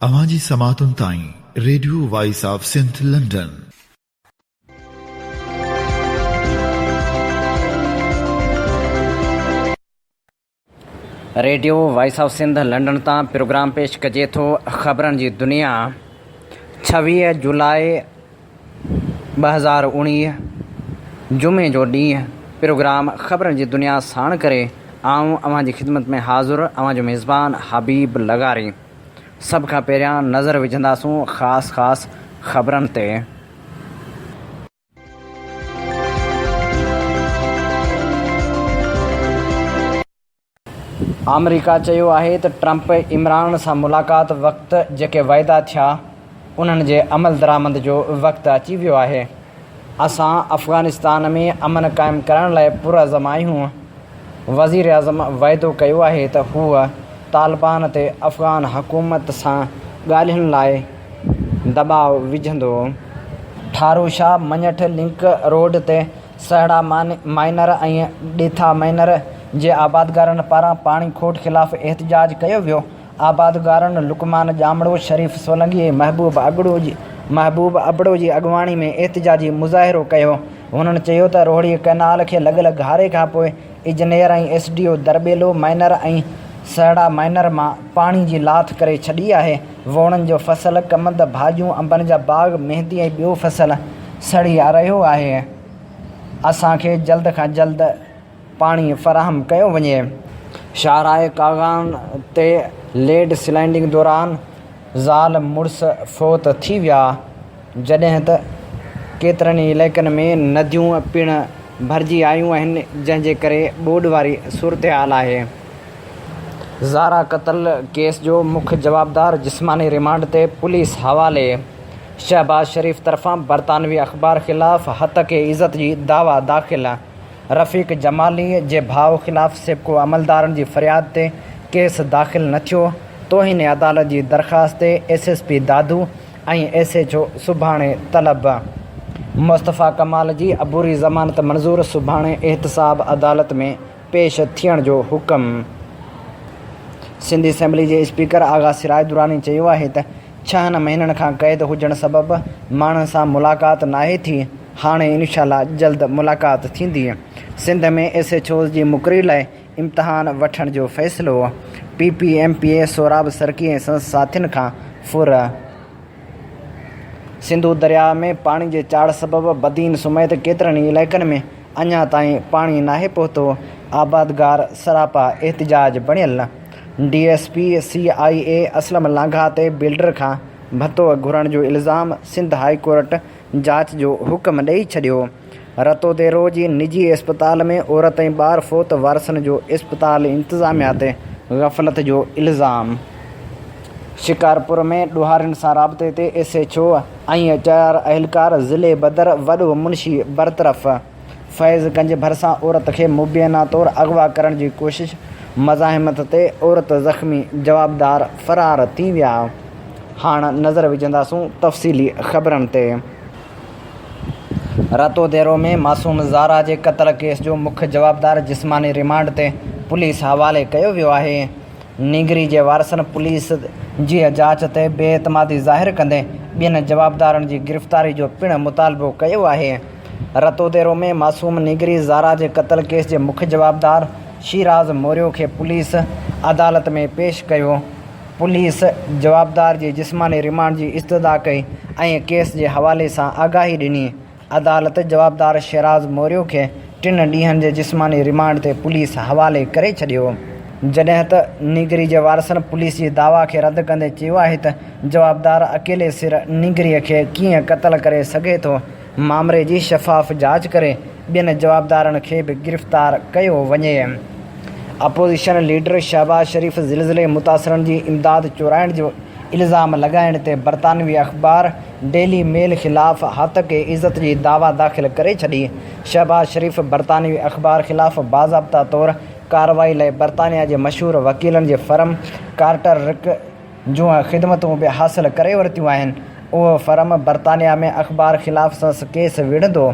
اوهان جي سماعتن تائين Radio Voice of Sindh London. Radio Voice of Sindh London تان پروگرام پيش ڪجي ٿو خبرن جي دنيا ڇويهه جولاء ٻه هزار اوڻيهه جمعي جو ڏينهن پروگرام خبرن جي دنيا ساڻ ڪري آئون اوهان جي خدمت ۾ حاضر اوهان جو ميزبان حبيب لغاري سڀ کان پهريان نظر وجهنداسون خاص خاص خبرن تي. آمريڪا چيو آهي ته ٽرمپ عمران سان ملاقات وقت جيڪي وعدا ٿيا انهن جي عملدرآمد جو وقت اچي ويو آهي، اسان افغانستان ۾ امن قائم ڪرڻ لاء پرعزم آهيون، وزيراعظم وعدو ڪيو آهي ته هو طالبان تي افغان حڪومت سان ڳالهين لاء دٻاء وجهندو. ٺاروشاه مڃٺ لنڪ روڊ تي سهڙا مائنر ۽ ڏيٿا مائنر جي آبادگارن پاران پاڻي کوٽ خلاف احتجاج ڪيو ويو، آبادگارن لقمان ڄامڙو، شريف سولنگي ۽ محبوب محبوب ابڙو جي اڳواڻي ۾ احتجاجي مظاهرو ڪيو، هنن چيو ته روهڙي ڪئنال کي لڳل گهاري کانپوء engineer ۽ S D O Darbelo minor ۽ Sahra minor مان پاڻي جي لاٿ ڪري ڇڏي آهي، ووڻن جو فصل، ڪمند، ڀاڄيون، انبن جا باغ، ميندي ۽ ٻيو فصل سڙي رهيو آهي، اسان کي جلد کان جلد پاڻي فراهم ڪيو وڃي. شاهراهه ڪاغان تي ليڊ سلائيڊنگ دوران زال مڙس فوت ٿي ويا. جڏهن ته ڪيترن ئي علائقن ۾ نديون پڻ ڀرجي آيون آهن، جنهن جي ڪري ٻوڏ واري صورتحال آهي. زارا قتل ڪيس جو مک جوابدار جسماني ريمانڊ تي پوليس حوالي، شهباز شريف طرفان برطانوي اخبار خلاف هتڪ عزت جي دعويٰ داخل، رفيق جمالي جي ڀاء خلاف سيپڪو عملدارن جي فرياد تي ڪيس داخل نه ٿيو، توهين عدالت جي درخواست تي S S P Dadu, ۽ S H O سڀاڻي طلب مصطفيٰ ڪمال جي عبوري ضمانت منظور سڀاڻي احتساب عدالت ۾ پيش ٿيڻ جو حڪم سنڌ اسيمبلي جي اسپيڪر آغا سراج دراني چيو آهي ته ڇهن مهينن کان قيد هجڻ سبب ماڻهن سان ملاقات ناهي ٿي هاڻي انشاء الله جلد ملاقات ٿيندي سنڌ ۾ ايس ايڇ اوز جي مقرري لاء امتحان وٺڻ جو فيصلو P P M P A Sohrab Sarki ۽ سندس ساٿين کان ڦر. سنڌو درياء ۾ پاڻي جي چاڙهه سبب بدين سميت ڪيترن ئي علائقن ۾ اڃا تائين پاڻي ناهي پهتو، آبادگار سراپا احتجاج بڻيل، D S P C I A Aslam Langah تي بلڊر کان ڀتو گهرڻ جو الزام، سنڌ هاء ڪورٽ جاچ جو حڪم ڏئي ڇڏيو. رتو ديرو جي نجي اسپتال ۾ عورت ۽ ٻار فوت، وارثن جو اسپتال انتظاميا تي غفلت جو الزام. شڪارپور ۾ ڏوهارين سان رابطي تي S H O ۽ H I R اهلڪار ضلعي بدر وڏو منشي برطرف، فيض گنج ڀرسان عورت کي مبينا طور اغوا ڪرڻ جي ڪوشش، مزاحمت تي عورت زخمي جوابدار فرار ٿي ويا، هاڻ نظر وجهنداسون تفصيلي خبرن تي. راتو ديرو ۾ معصوم زارا جي قتل ڪيس جو مک جوابدار جسماني ريمانڊ تي پوليس حوالي ڪيو ويو آهي. نينگري جي وارثن پوليس جي جاچ تي بي اعتمادي ظاهر ڪندي ٻين جوابدارن جي گرفتاري جو پڻ مطالبو ڪيو آهي. راتو ديرو ۾ معصوم نينگري زارا جي قتل ڪيس جي مک جوابدار شيراز موريو کي پوليس عدالت ۾ پيش ڪيو. پوليس جوابدار جي جسماني ريمانڊ جي استدعا ڪئي ۽ ڪيس جي حوالي سان آگاهي ڏني. عدالت جوابدار شيراز موريو کي ٽن ڏينهن جي جسماني ريمانڊ تي پوليس حوالي ڪري ڇڏيو. جڏهن ته نينگري جي وارثن پوليس جي دعويٰ کي رد ڪندي چيو آهي ته جوابدار اڪيلي سر نينگري کي ڪيئن قتل ڪري سگهي ٿو مامري جي شفاف جاچ ڪري ٻين جوابدارن کي به گرفتار ڪيو وڃي. اپوزيشن ليڊر شهباز شريف زلزلي متاثرن جي امداد چورائڻ جو الزام لڳائڻ تي برطانوي اخبار ڊيلي ميل خلاف هتڪ عزت جي دعويٰ داخل ڪري ڇڏي. شهباز شريف برطانوي اخبار خلاف باضابطه طور ڪارروائي لاء برطانيا جي مشهور وڪيلن جي فرم ڪارٽر رڪ، جون خدمتون به حاصل ڪري ورتيون آهن، اهو فرم برطانيا ۾ اخبار خلاف سنس ڪيس وڙهندو.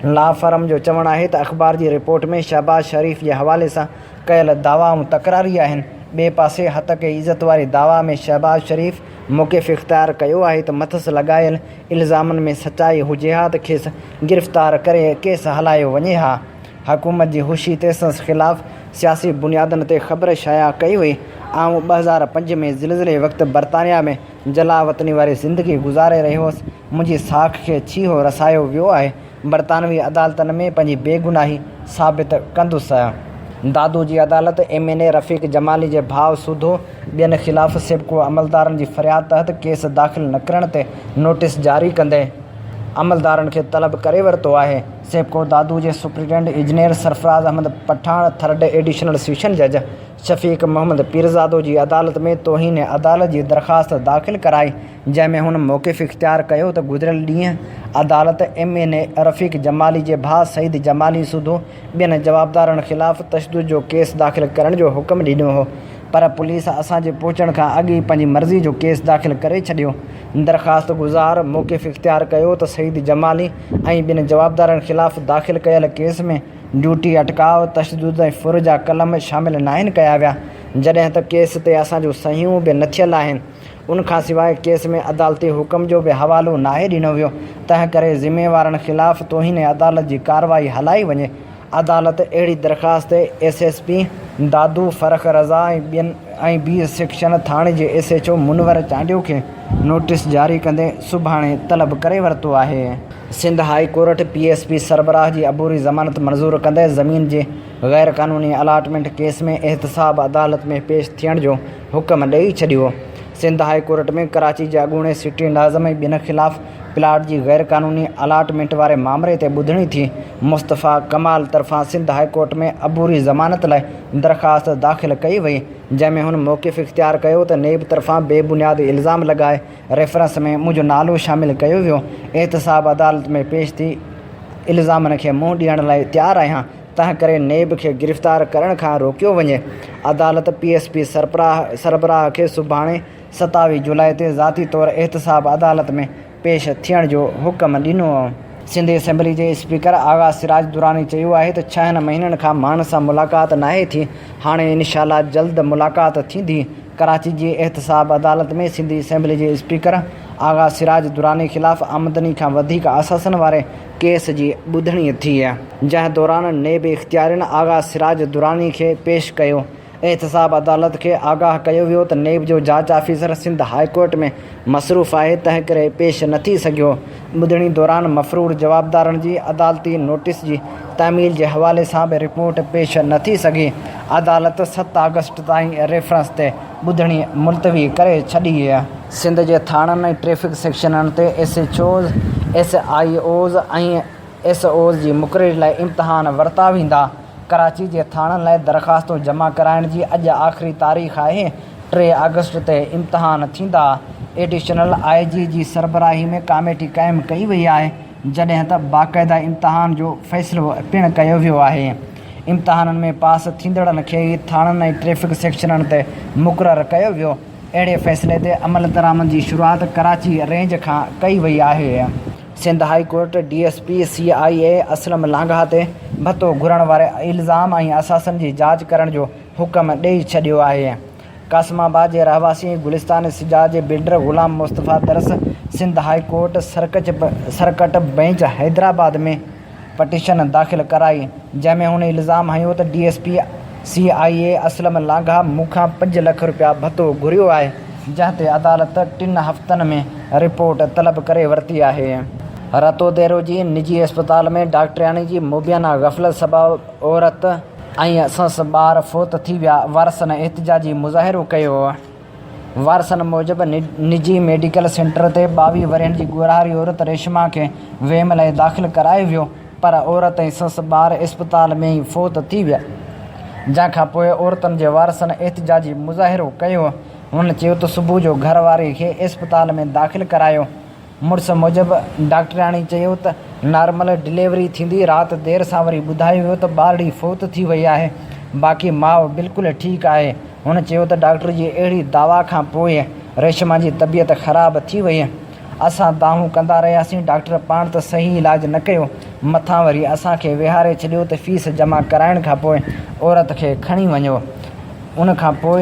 لا فرم جو چوڻ آهي ته اخبار جي رپورٽ ۾ شهباز شريف جي حوالي سان ڪيل دعوائون تڪراري آهن. ٻئي پاسي هتڪ عزت واري دعوا ۾ شهباز شريف موقف اختيار ڪيو آهي ته مٿس لڳايل الزامن ۾ سچائي هجي ها ته کيس گرفتار ڪري ڪيس هلايو وڃي ها. حڪومت جي هوشي تي سنس خلاف سياسي بنيادن تي خبر شايع ڪئي هئي. آئون ٻه هزار پنج ۾ زلزلي وقت برطانيا ۾ جلاوطني واري زندگي گذاري رهي هوس. منهنجي ساک کي ڇيهو رسايو ويو آهي. برطانوي عدالتن ۾ پنهنجي بي گناهي ثابت ڪندس. دادو جي عدالت M N A Rafiq Jamali جي ڀاء سوڌو ٻين خلاف سيپڪو عملدارن جي فرياد تحت ڪيس داخل نه ڪرڻ تي نوٽيس جاري ڪندي عملدارن کي طلب ڪري ورتو آهي. سيپڪو دادو جي superintendent engineer Sarfraz Ahmed Pathan third additional session جج شفيق محمد پيرزادو جي عدالت ۾ توهين عدالت جي درخواست داخل ڪرائي جنهن ۾ هن موقف اختيار ڪيو ته گذريل ڏينهن عدالت M N A Rafiq Jamali جي ڀاء سعيد جمالي سوڌو ٻين جوابدارن خلاف تشدد جو ڪيس داخل ڪرڻ جو حڪم ڏنو هو پر پوليس اسان جي پهچڻ کان اڳ ئي پنهنجي مرضي جو ڪيس داخل ڪري ڇڏيو. درخواستگذار موقف اختيار ڪيو ته سعيد جمالي ۽ ٻن جوابدارن خلاف داخل ڪيل ڪيس ۾ ڊيوٽي اٽڪاء، تشدد ۽ ڦر جا قلم شامل ناهن ڪيا ويا، جڏهن ته ڪيس تي اسان جون صحيحون به نه ٿيل آهن. ان کان سواء ڪيس ۾ عدالتي حڪم جو به حوالو ناهي ڏنو ويو، تنهنڪري ذميوارن خلاف توهين عدالت جي ڪارروائي هلائي وڃي. عدالت اهڙي درخواست تي S S P Dadu Farrukh Raza ۽ B section ٿاڻي جي S H O Munawar Chandio کي نوٽيس جاري ڪندي سڀاڻي طلب ڪري ورتو آهي. Sindh high court P S P سربراهه جي عبوري ضمانت منظور ڪندي زمين جي غير قانوني الاٽمينٽ ڪيس ۾ احتساب عدالت ۾ پيش ٿيڻ جو حڪم ڏئي ڇڏيو. سنڌ هائي ڪورٽ ۾ ڪراچي جي اڳوڻي سٽي ناظم ۽ ٻين خلاف پلاٽ جي غير قانوني الاٽمينٽ واري مامري تي ٻڌڻي ٿي، مصطفيٰ ڪمال طرفان سنڌ هاء ڪورٽ ۾ عبوري ضمانت لاء درخواست داخل ڪئي وئي، جنهن ۾ هن موقف اختيار ڪيو ته نيب طرفان بي بنياد الزام لڳائي ريفرنس ۾ منهنجو نالو شامل ڪيو ويو، احتساب عدالت ۾ پيش ٿي الزامن کي منهن ڏيڻ لاء تيار آهيان، تنهنڪري نيب کي گرفتار ڪرڻ کان روڪيو وڃي، عدالت پي ايس پي سربراهه کي سڀاڻي ستاويهه جولاء تي ذاتي طور احتساب عدالت ۾ پيش ٿيڻ جو حڪم ڏنو هو. سنڌ اسيمبلي جي اسپيڪر آغا سراج دراني چيو آهي ته ڇهن مهينن کان مان سان ملاقات ناهي ٿي، هاڻي انشاءالله جلد ملاقات ٿيندي. ڪراچي جي احتساب عدالت ۾ سنڌ اسيمبلي جي اسپيڪر آغا سراج دراني خلاف آمدني کان وڌيڪ اثاثن واري ڪيس جي ٻڌڻي ٿي، جنهن دوران نيب اختيارين آغا سراج دراني کي پيش ڪيو. احتساب عدالت کي آگاهه ڪيو ويو ته نيب جو جاچ آفيسر سنڌ هاء ڪورٽ ۾ مصروف آهي تنهنڪري پيش نه ٿي سگهيو. ٻڌڻي دوران مفرور جوابدارن جي عدالتي نوٽيس جي تعميل جي حوالي سان به رپورٽ پيش نه ٿي سگهي. عدالت ست آگسٽ تائين ريفرنس تي ٻڌڻي ملتوي ڪري ڇڏي. سنڌ جي ٿاڻن ۽ ٽريفڪ سيڪشنن تي S H Os, S I Os ۽ S Os جي مقرري لاء امتحان ورتا ويندا، ڪراچي جي ٿاڻن لاء درخواستون جمع ڪرائڻ جي اڄ آخري تاريخ آهي، ٽي آگسٽ تي امتحان ٿيندا، ايڊيشنل آء جي جي سربراهي ۾ ڪاميٽي قائم ڪئي وئي آهي، جڏهن ته باقاعده امتحان جو فيصلو پڻ ڪيو ويو آهي، امتحانن ۾ پاس ٿيندڙن کي ئي ٿاڻن ۽ ٽريفڪ سيڪشنن تي مقرر ڪيو ويو، اهڙي فيصلي تي عملدرآمد جي شروعات ڪراچي رينج کان ڪئي وئي آهي. Sindh high court D S P C I A Aslam Langah تي ڀتو گهرڻ واري الزام ۽ اثاثن جي جاچ ڪرڻ جو حڪم ڏئي ڇڏيو آهي. قاسم آباد جي رهواسي گلستان سجاع جي بلڊر غلام Mustafa Dars Sindh high court circuit bench Hyderabad ۾ petition داخل ڪرائي، جنهن ۾ هن الزام هنيو ته D S P C I A Aslam Langah مون کان پنج لک رپيا ڀتو گهريو آهي، جنهن تي عدالت ٽن هفتن ۾ رپورٽ طلب ڪري ورتي آهي. رتوديرو جي نجي اسپتال ۾ ڊاڪٽرياڻي جي مبينا غفلت سبب عورت ۽ سس ٻار فوت ٿي ويا، وارثن احتجاجي مظاهرو ڪيو. وارثن موجب نجي ميڊيڪل سينٽر تي ٻاويهه ورهين جي ڳورهاري عورت ريشما کي ويم لائي داخل ڪرايو ويو پر عورت ۽ سس ٻار اسپتال ۾ ئي فوت ٿي ويا جنهن کانپوء عورتن جي وارثن احتجاجي مظاهرو ڪيو هن چيو ته صبح جو گهر واري کي اسپتال ۾ داخل ڪرايو مڙس موجب ڊاڪٽرياڻي چيو ته نارمل ڊليوري ٿيندي، رات دير سان وري ٻڌايو ويو ته ٻارڙي فوت ٿي وئي آهي، باقي ماء بلڪل ٺيڪ آهي. هن چيو ته ڊاڪٽر جي اهڙي دعويٰ کان پوء ريشما جي طبيعت خراب ٿي وئي، اسان دانهون ڪندا رهياسين، ڊاڪٽر پاڻ ته صحيح علاج نه ڪيو، مٿان وري اسان کي ويهاري ڇڏيو ته فيس جمع ڪرائڻ کان پوء عورت کي کڻي وڃو، ان کان پوء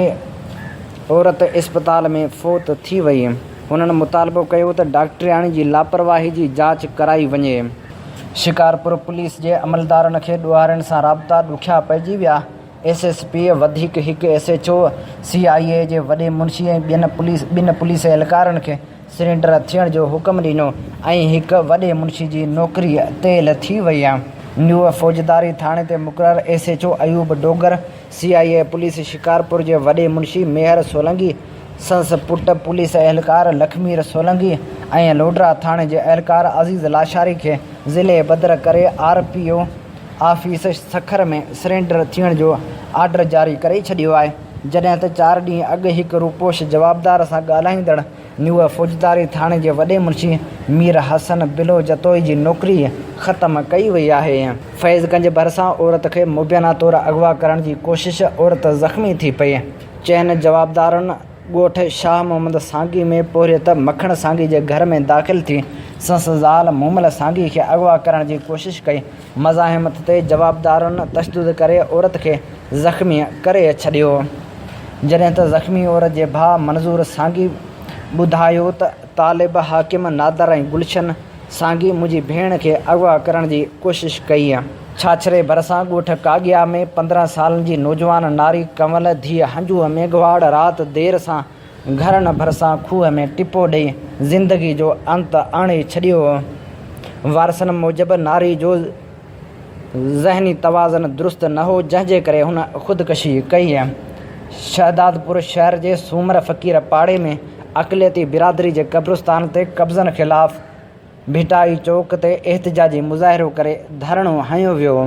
عورت اسپتال ۾ فوت ٿي وئي. هنن مطالبو ڪيو ته ڊاڪٽرياڻي جي لاپرواهي جي جاچ ڪرائي وڃي. شڪارپور پوليس جي عملدارن کي ڏوهارين سان رابطا ڏکيا پئجي ويا، ايس ايس پي وڌيڪ هڪ S H O, C I A جي وڏي منشي ۽ ٻين پوليس ٻن پوليس اهلڪارن کي سرينڊر ٿيڻ جو حڪم ڏنو ۽ هڪ وڏي منشي جي نوڪري تيل ٿي وئي. نيو فوجداري ٿاڻي تي مقرر S H O Ayub Dogar, C I A police Shikarpur جي وڏي منشي ميهر سولنگي، سندس پٽ پوليس اهلڪار لکمير سولنگي ۽ لوڍرا ٿاڻي جي اهلڪار عزيز لاشاري کي ضلعي بدر ڪري R P O office Sukkur ۾ surrender ٿيڻ جو آرڊر جاري ڪري ڇڏيو آهي جڏهن ته چار ڏينهن اڳ هڪ روپوش جوابدار سان ڳالهائيندڙ نيو فوجداري ٿاڻي جي وڏي منشي مير حسن بلو جتوئي جي نوڪري ختم ڪئي وئي آهي. فيض گنج ڀرسان عورت کي مبينا طور اغوا ڪرڻ جي ڪوشش عورت زخمي ٿي پئي. چئن جوابدارن ڳوٺ شاهه محمد سانگي ۾ پورهيت مکڻ سانگي جي گهر ۾ داخل ٿي سنس زال مومل سانگي کي اغوا ڪرڻ جي ڪوشش ڪئي، مزاحمت تي جوابدارن تشدد ڪري عورت کي زخمي ڪري ڇڏيو، جڏهن ته زخمي عورت جي ڀاء منظور سانگي ٻڌايو ته طالب حاڪم نادر ۽ گلشن. سانگي منهنجي ڀيڻ کي اغوا ڪرڻ جي ڪوشش ڪئي ۽ ڇاڇري ڀرسان ڳوٺ ڪاڳيا ۾ پندرهن سالن جي نوجوان ناري ڪنول ڌيء هنجوء ميگهواڙ رات دير سان گهرن ڀرسان کوهه ۾ ٽپو ڏئي زندگي جو انت آڻي ڇڏيو هو وارثن موجب ناري جو ذهني توازن درست نه هو، جنهن جي ڪري هن خودڪشي ڪئي ۽ شهدادپور شهر جي سومره فقير پاڙي ۾ اقليتي برادري جي قبرستان تي قبضن خلاف ڀٽائي چوڪ تي احتجاجي مظاهرو ڪري ڌرڻو هنيو ويو.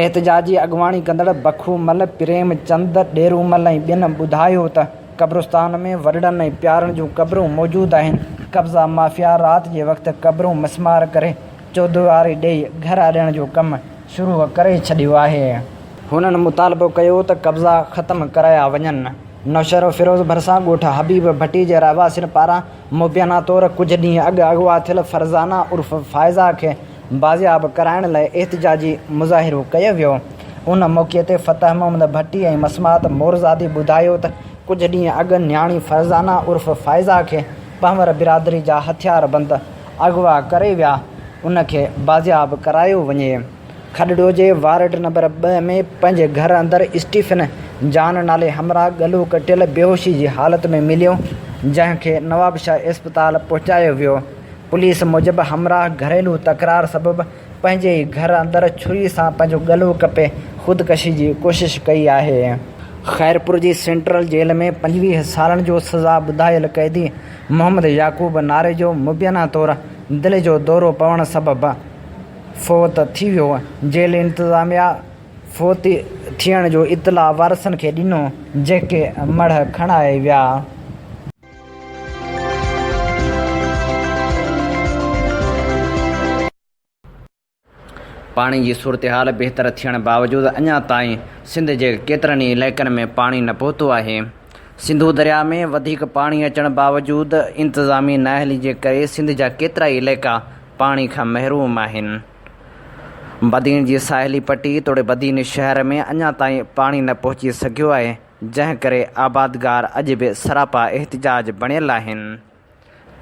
احتجاج جي اڳواڻي ڪندڙ بکو مل، پريم چند، ڏيرومل ۽ ٻين ٻڌايو ته قبرستان ۾ وڏڙن ۽ پيارن جون قبرون موجود آهن، قبضا مافيا رات جي وقت قبرون مسمار ڪري چوڌاري ڏيئي گهر اڏڻ جو ڪم شروع ڪري ڇڏيو آهي. هنن مطالبو ڪيو ته قبضا ختم ڪرايا وڃن. نوشهرو فيروز ڀرسان ڳوٺ حبيب ڀٽي جي رهواسين پاران مبينا طور ڪجهه ڏينهن اڳ اغوا ٿيل فرزانه عرف فائزه کي بازياب ڪرائڻ لاء احتجاجي مظاهرو ڪيو ويو. ان موقعي تي فتح محمد ڀٽي ۽ مسمات مورزادي ٻڌايو ته ڪجهه ڏينهن اڳ نياڻي فرزانه عرف فائزه کي پنهور برادري جا هٿياربند اغوا ڪري ويا ان کي بازياب ڪرايو وڃي. کڏڙو جي وارڊ نمبر ٻه ۾ پنهنجي گهر اندر اسٽيفن جان نالي همراهه ڳلهو ڪٽيل بيهوشي جي حالت ۾ مليو جنهن کي نوابشاهه اسپتال پهچايو ويو پوليس موجب همراهه گهريلو تڪرار سبب پنهنجي ئي گهر اندر ڇري سان پنهنجو ڳلو ڪپي خودڪشي جي ڪوشش ڪئي آهي. خيرپور جي سينٽرل جيل ۾ پنجويهه سالن جو سزا ٻڌايل قيدي محمد يعقوب ناريجو مبينا طور دل جو دورو پوڻ سبب فوت ٿي ويو، جيل انتظاميا فوت ٿيڻ جو اطلاع وارثن کي ڏنو، جيڪي مڙهه کڻائي ويا. پاڻي جي صورتحال بهتر ٿيڻ باوجود اڃا تائين سنڌ جي ڪيترن ئي علائقن ۾ پاڻي نه پهتو آهي. سنڌو درياء ۾ وڌيڪ پاڻي اچڻ باوجود انتظامي نااهلي جي ڪري سنڌ جا ڪيترائي علائقا پاڻي کان محروم آهن. بدين جي ساحلي پٽي توڙي بدين شهر ۾ اڃا تائين پاڻي نه پهچي سگهيو آهي. جنهن ڪري آبادگار اڄ به سراپا احتجاج بڻيل آهن.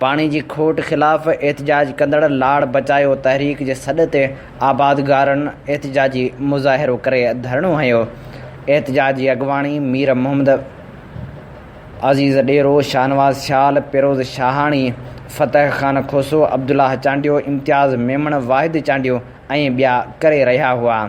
پاڻي جي کوٽ خلاف احتجاج ڪندڙ لاڙ بچايو تحريڪ جي سڏ تي آبادگارن احتجاجي مظاهرو ڪري ڌرڻو هنيو. احتجاج جي اڳواڻي مير محمد عزيز ڏيرو، شاهنواز شال، پيروز شاهاڻي، فتح خان کوسو، عبدالله چانڊيو، امتياز ميمڻ، واحد چانڊيو ۽ ٻيا ڪري رهيا هئا.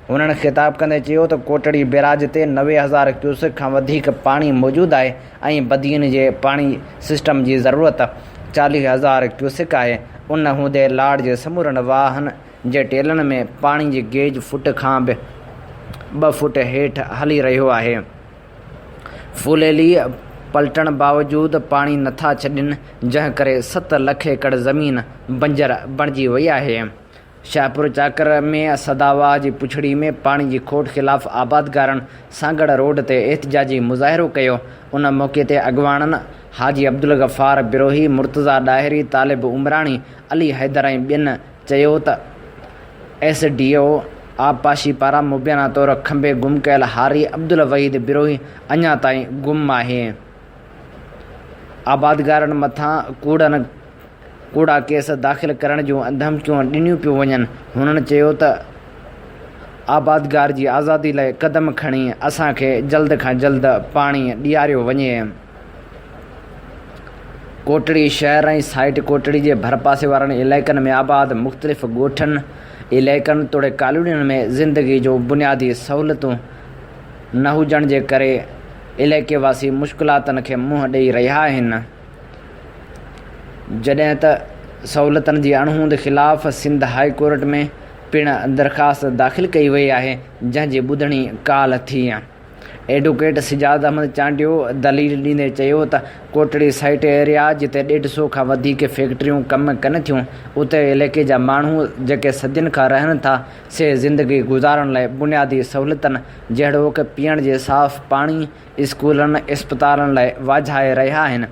هنن خطاب ڪندي چيو ته ڪوٽڙي بيراج تي نوي هزار ڪيوسڪ کان وڌيڪ پاڻي موجود آهي ۽ بدين جي پاڻي سسٽم جي ضرورت چاليهه هزار ڪيوسڪ آهي ان هوندي لاڙ جي سمورن واهن جي ٽيلن ۾ پاڻي جي گيج فوٽ کان به ٻه فوٽ هيٺ هلي رهيو آهي ڦوليلي پلٽڻ باوجود پاڻي نٿا ڇڏين جنهن ڪري ست لک ايڪڙ زمين بنجر بڻجي وئي آهي شاهپور چاڪر ۾ اسدآباد جي پڇڙي ۾ پاڻي جي کوٽ خلاف آبادگارن سانگهڙ روڊ تي احتجاجي مظاهرو ڪيو، ان موقعي تي اڳواڻن حاجي عبدالغفار بروهي، مرتضيٰ ڏاهري، طالب عمراڻي، علي حيدر ۽ ٻين چيو ته ايس ڊي او آبپاشي پاران مبينا طور کنڀي گم ڪيل هاري عبدالوحيد بروهي اڃا تائين گم آهي، آبادگارن مٿان ڪوڙن ڪوڙا ڪيس داخل ڪرڻ جون ڌمڪيون ڏنيون پيون وڃن، هنن چيو ته آبادگار جي آزادي لاء قدم کڻي اسان کي جلد کان جلد پاڻي ڏياريو وڃي، ڪوٽڙي شهر ۽ سائيٽ ڪوٽڙي جي ڀرپاسي وارن علائقن ۾ آباد مختلف ڳوٺن، علائقن توڙي ڪالونين ۾ زندگي جون بنيادي سهولتون نه هجڻ جي ڪري علائقي واسي مشڪلاتن کي منهن ڏئي رهيا آهن. جڏهن ته سهولتن جي اڻهوند خلاف سنڌ هاء ڪورٽ ۾ پڻ درخواست داخل ڪئي وئي آهي، جنهن جي ٻڌڻي ڪالهه ٿي. ايڊووڪيٽ سجاد احمد چانڊيو دليل ڏيندي چيو ته ڪوٽڙي سائيٽ ايريا جتي ڏيڍ سو کان وڌيڪ فيڪٽريون ڪم ڪن ٿيون، اتي علائقي جا ماڻهو جيڪي صدين کان رهن ٿا، سي زندگي گذارڻ لاء بنيادي سهولتن جهڙوڪ پيئڻ جي صاف پاڻي، اسڪولن، اسپتالن لاء واجهائي رهيا آهن،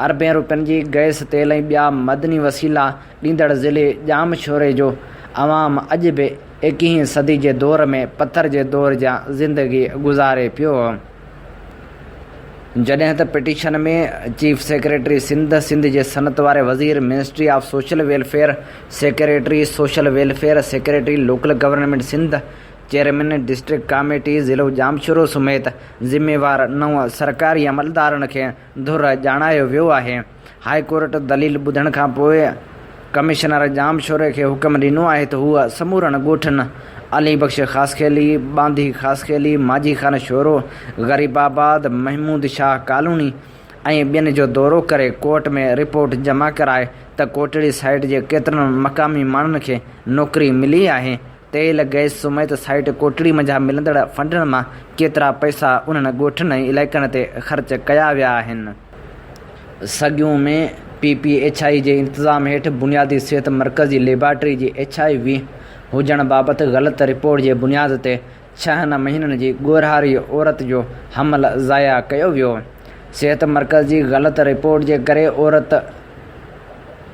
اربين روپين جي گئس، تيل ۽ ٻيا معدني وسيلا ڏيندڙ ضلعي ڄام شوري جو عوام اڄ به ايڪيهين صدي جي دور ۾ پٿر جي دور جيان زندگي گذاري پيو. جڏهن ته petition ۾ chief secretary Sindh, Sindh جي صنعت واري وزير، ministry of social welfare, secretary social welfare, secretary local government Sindh, chairman district committee ضلعو ڄامشورو سميت ذميوار نو سرڪاري عملدارن کي ڌر ڄاڻايو ويو آهي، هاء ڪورٽ دليل ٻڌڻ کانپوء ڪمشنر ڄامشوري کي حڪم ڏنو آهي ته هو سمورن ڳوٺن علي بخش خاصخيلي، ٻانڌي خاصخيلي، ماجي خان شورو، غريب آباد، محمود شاهه ڪالوني ۽ ٻين جو دورو ڪري ڪورٽ ۾ رپورٽ جمع ڪرائي ته ڪوٽڙي سائيٽ جي ڪيترن مقامي ماڻهن کي نوڪري ملي آهي تيل، گئس سميت سائيٽ ڪوٽڙي منجهان ملندڙ فنڊن مان ڪيترا پئسا انهن ڳوٺن ۽ علائقن تي خرچ ڪيا ويا آهن. Sagyun ۾ P P H I جي انتظام هيٺ بنيادي صحت مرڪز جي ليبارٽري جي ايڇ آء وي هجڻ بابت غلط رپورٽ جي بنياد تي ڇهن مهينن جي ڳورهاري عورت جو حمل ضايع ڪيو ويو صحت مرڪز جي غلط رپورٽ جي ڪري عورت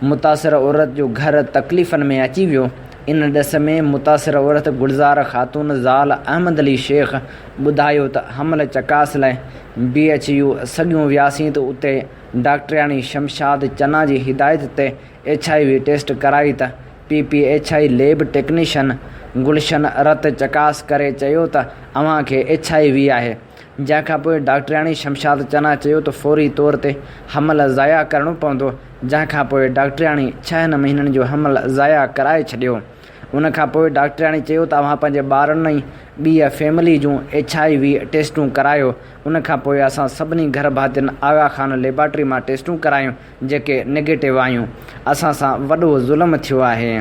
متاثره عورت جو گهر تڪليفن ۾ اچي ويو، ان ڏس ۾ متاثره عورت گلزار خاتون زال احمد علي شيخ ٻڌايو ته حمل چڪاس لاء بي ايڇ يو سڳيون وياسين ته اتي ڊاڪٽرياڻي شمشاد چنا جي هدايت تي ايڇ آء وي ٽيسٽ ڪرائي ته P P H I lab technician Gulshan رت چڪاس ڪري چيو ته اوهان کي ايڇ آء وي آهي. جنهن کان پوء ڊاڪٽرياڻي شمشاد چنا چيو ته فوري طور تي حمل ضايع ڪرڻو پوندو، جنهن کان پوء ڊاڪٽرياڻي ڇهن مهينن جو حمل ضايع ڪرائي ڇڏيو. ان کان پوء ڊاڪٽرياڻي چيو ته اوهان پنهنجي ٻارن ۽ ٻيء فيملي جون ايڇ آء وي ٽيسٽون ڪرايو. ان کان پوء اسان سڀني گهر ڀاتين آغا خان ليبارٽري مان ٽيسٽون ڪرايون. جيڪي نيگيٽو آهيون اسان سان وڏو ظلم ٿيو آهي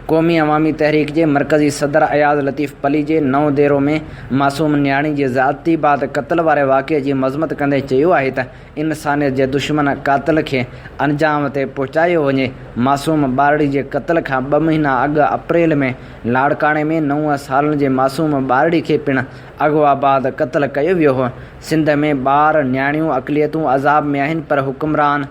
قومي عوامي تحريڪ جي مرڪزي صدر اياز لطيف پلي جي نئون ديرو ۾ معصوم نياڻي جي زيادتي بعد قتل واري واقعي جي مذمت ڪندي چيو آهي ته انسانيت جي دشمن قاتل کي انجام تي پهچايو وڃي معصوم ٻارڙي جي قتل کان ٻه مهينا اڳ اپريل ۾ لاڙڪاڻي ۾ نو سالن جي معصوم ٻارڙي کي پڻ اغوا بعد قتل ڪيو ويو هو سنڌ ۾ ٻار، نياڻيون، اقليتون عذاب ۾ آهن پر حڪمران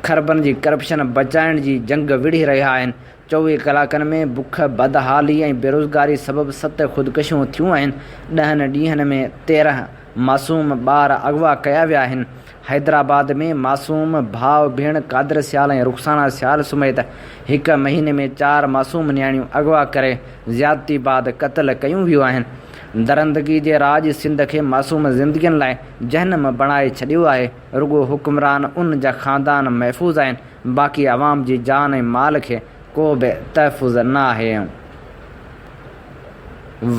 کربن جي ڪرپشن بچائڻ جي جنگ وڙهي رهيا آهن، چوويهه ڪلاڪن ۾ بک، بدحالي ۽ بيروزگاري سبب ست خودڪشيون ٿيون آهن، ڏهن ڏينهن ۾ تيرهن معصوم ٻار اغوا ڪيا ويا آهن، حيدرآباد ۾ معصوم ڀاء ڀيڻ قادر سيال ۽ رخسانا سيال سميت هڪ مهيني ۾ چار معصوم نياڻيون اغوا ڪري زيادتي بعد قتل ڪيون ويو آهن درندگي جي راڄ سنڌ کي معصوم زندگين لاء جهنم بڻائي ڇڏيو آهي رڳو حڪمران ان جا خاندان محفوظ آهن باقي عوام جي جان ۽ مال کي ڪو به تحفظ ناهي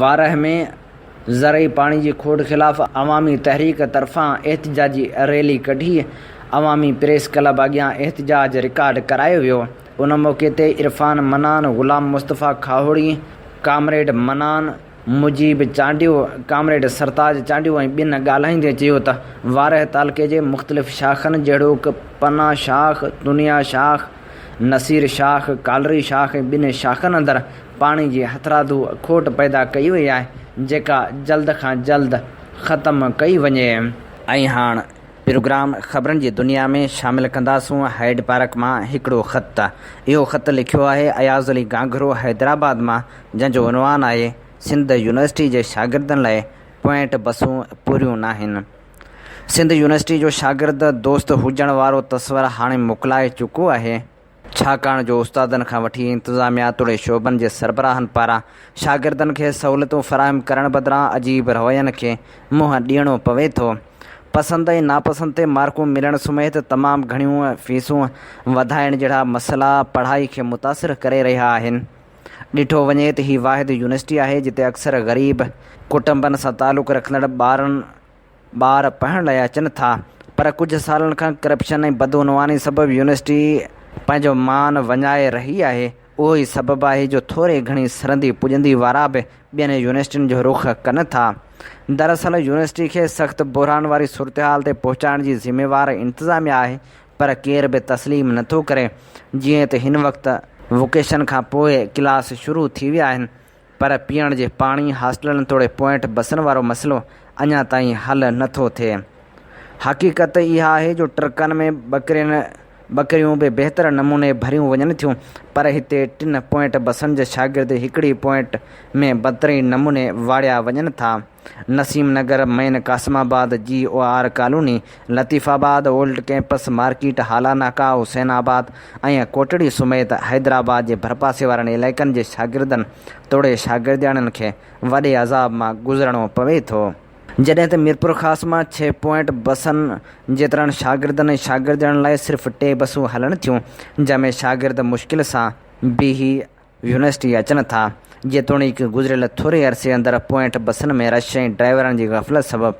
وارهه ۾ زرعي پاڻي جي کوٽ خلاف عوامي تحريڪ طرفان احتجاجي ريلي ڪڍي عوامي پريس ڪلب اڳيان احتجاج رڪارڊ ڪرايو ويو ان موقعي تي عرفان منان، غلام مصطفيٰ کاهوڙي، ڪامريڊ منان، مجيب چانڊيو، ڪامريڊ سرتاج چانڊيو ۽ ٻين ڳالهائيندي چيو ته وارهه تعلقي جي مختلف شاخن جهڙوڪ پنا شاخ، دنيا شاخ، نصير شاخ، ڪالري شاخ ۽ ٻنهي شاخن اندر پاڻي جي هٿرادو کوٽ پيدا ڪئي وئي آهي، جيڪا جلد کان جلد ختم ڪئي وڃي. ۽ هاڻ پروگرام خبرن جي دنيا ۾ شامل ڪنداسون هائيڊ پارڪ مان هڪڙو خط. اهو خط لکيو آهي اياز علي گانگهرو حيدرآباد مان جنهن جو عنوان آهي سنڌ يونيورسٽي جي شاگردن لاء پوائنٽ بسون پوريون ناهن. سنڌ يونيورسٽي جو شاگرد دوست هجڻ وارو تصور هاڻي موڪلائي چڪو آهي، ڇاڪاڻ جو استادن کان وٺي انتظاميا توڙي شعبن جي سربراهن پاران شاگردن کي سهولتون فراهم ڪرڻ بدران عجيب روين کي منهن ڏيڻو پوي ٿو. پسند ۽ ناپسند تي مارڪون ملڻ سميت تمام گهڻيون فيسون وڌائڻ جهڙا مسئلا پڙهائي کي متاثر ڪري رهيا آهن. ڏٺو وڃي ته هي واحد يونيورسٽي آهي جتي اڪثر غريب ڪٽنبن سان تعلق رکندڙ ٻارن ٻار پڙهڻ لاء اچن ٿا پر ڪجهه سالن کان ڪرپشن ۽ بدعنواني سبب يونيورسٽي پنهنجو مان وڃائي رهي آهي اهو ئي سبب آهي جو ٿوري گهڻي سرندي پڄندي وارا به ٻين يونيورسٽين جو رخ ڪن ٿا دراصل يونيورسٽي کي سخت بحران واري صورتحال تي پهچائڻ جي ذميوار انتظاميا آهي پر ڪير به تسليم نه ٿو ڪري، جيئن ته هن وقت وڪيشن کان پوء ڪلاس شروع ٿي ويا آهن پر پيئڻ جي پاڻي، هاسٽلن توڙي پوائنٽ بسن وارو مسئلو اڃا تائين حل نه ٿو ٿئي. حقيقت اها آهي جو ٽرڪن ۾ ٻڪرين ٻڪريون به بهتر نموني ڀريون وڃن ٿيون پر هتي ٽن پوائنٽ بسن جا شاگرد هڪڙي پوائنٽ ۾ بدترين نموني واڙيا وڃن ٿا. Naseem Nagar, main Qasimabad, G O R colony, Latifabad, old campus, market, Hala Naka, حسين آباد ۽ ڪوٽڙي سميت حيدرآباد جي ڀرپاسي وارن علائقن جي شاگردن توڙي شاگردياڻين کي وڏي عذاب مان گذرڻو پوي ٿو. جڏهن ته ميرپورخاص مان ڇهه پوائنٽ بسن جيترن شاگردن ۽ شاگردياڻين لاء صرف ٽي بسون هلڻ ٿيون، جنهن ۾ شاگرد مشڪل سان بيهي، يونيورسٽي اچن ٿا، جيتوڻيڪ گذريل ٿوري عرصي اندر پوائنٽ بسن ۾ رش ۽ ڊرائيورن جي غفلت سبب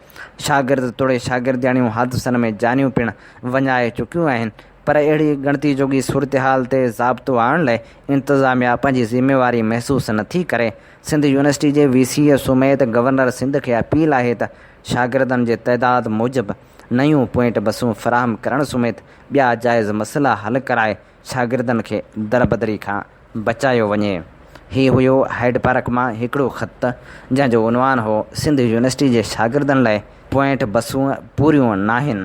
شاگرد توڙي شاگردياڻيون حادثن ۾ جانيون پڻ وڃائي چڪيون آهن پر اهڙي ڳڻتي جوڳي صورتحال تي ضابطو آڻڻ لاء انتظاميا پنهنجي ذميواري محسوس نٿي ڪري، سنڌ يونيورسٽي جي وي سيء سميت گورنر سنڌ کي اپيل آهي ته شاگردن جي تعداد موجب نيون پوائنٽ بسون فراهم ڪرڻ سميت ٻيا جائز مسئلا حل ڪرائي. شاگردن کي دربدري کان بچايو وڃي. هي هيو هائيڊ پارڪ مان هڪڙو خط جنهن جو عنوان هو سنڌ يونيورسٽي جي شاگردن لاء پوائنٽ بسون پوريون ناهن.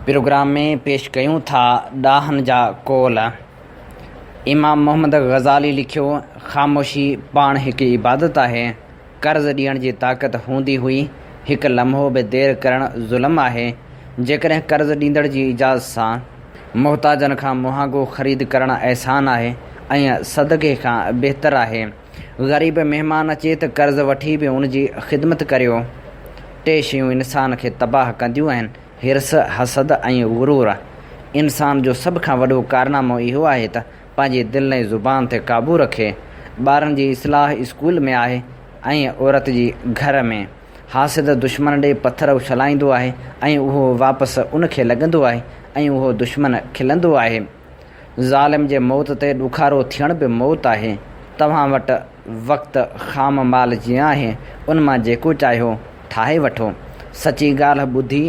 پروگرام ۾ پيش ڪيون ٿا ڏاهن جا قول. امام محمد غزالي لکيو، خاموشي پاڻ هڪ عبادت آهي. قرض ڏيڻ جي طاقت هوندي هئي، هڪ لمحو به دير ڪرڻ ظلم آهي، جيڪڏهن قرض ڏيندڙ جي اجازت سان محتاجن کان مهانگو خريد ڪرڻ احسان آهي ۽ صدقي کان بهتر آهي، غريب مهمان اچي ته قرض وٺي به ان جي خدمت ڪريو، ٽي شيون انسان کي تباهه ڪنديون آهن، حرص، حسد ۽ غرور، انسان جو سڀ کان وڏو ڪارنامو اهو آهي ته پنهنجي دل ۽ زبان تي قابو رکي، ٻارن جي اصلاح اسڪول ۾ آهي ۽ عورت جي گهر ۾. حاسد دشمن ڏي پٿر اڇلائيندو آهي ۽ اهو واپس ان کي لڳندو آهي ۽ اهو دشمن کلندو آهي. ظالم جي موت تي ڏکارو ٿيڻ به موت آهي. توهان وٽ وقت خام مال جيان آهي، ان مان جيڪو چاهيو ٺاهي وٺو. سچي ڳالهه ٻڌي،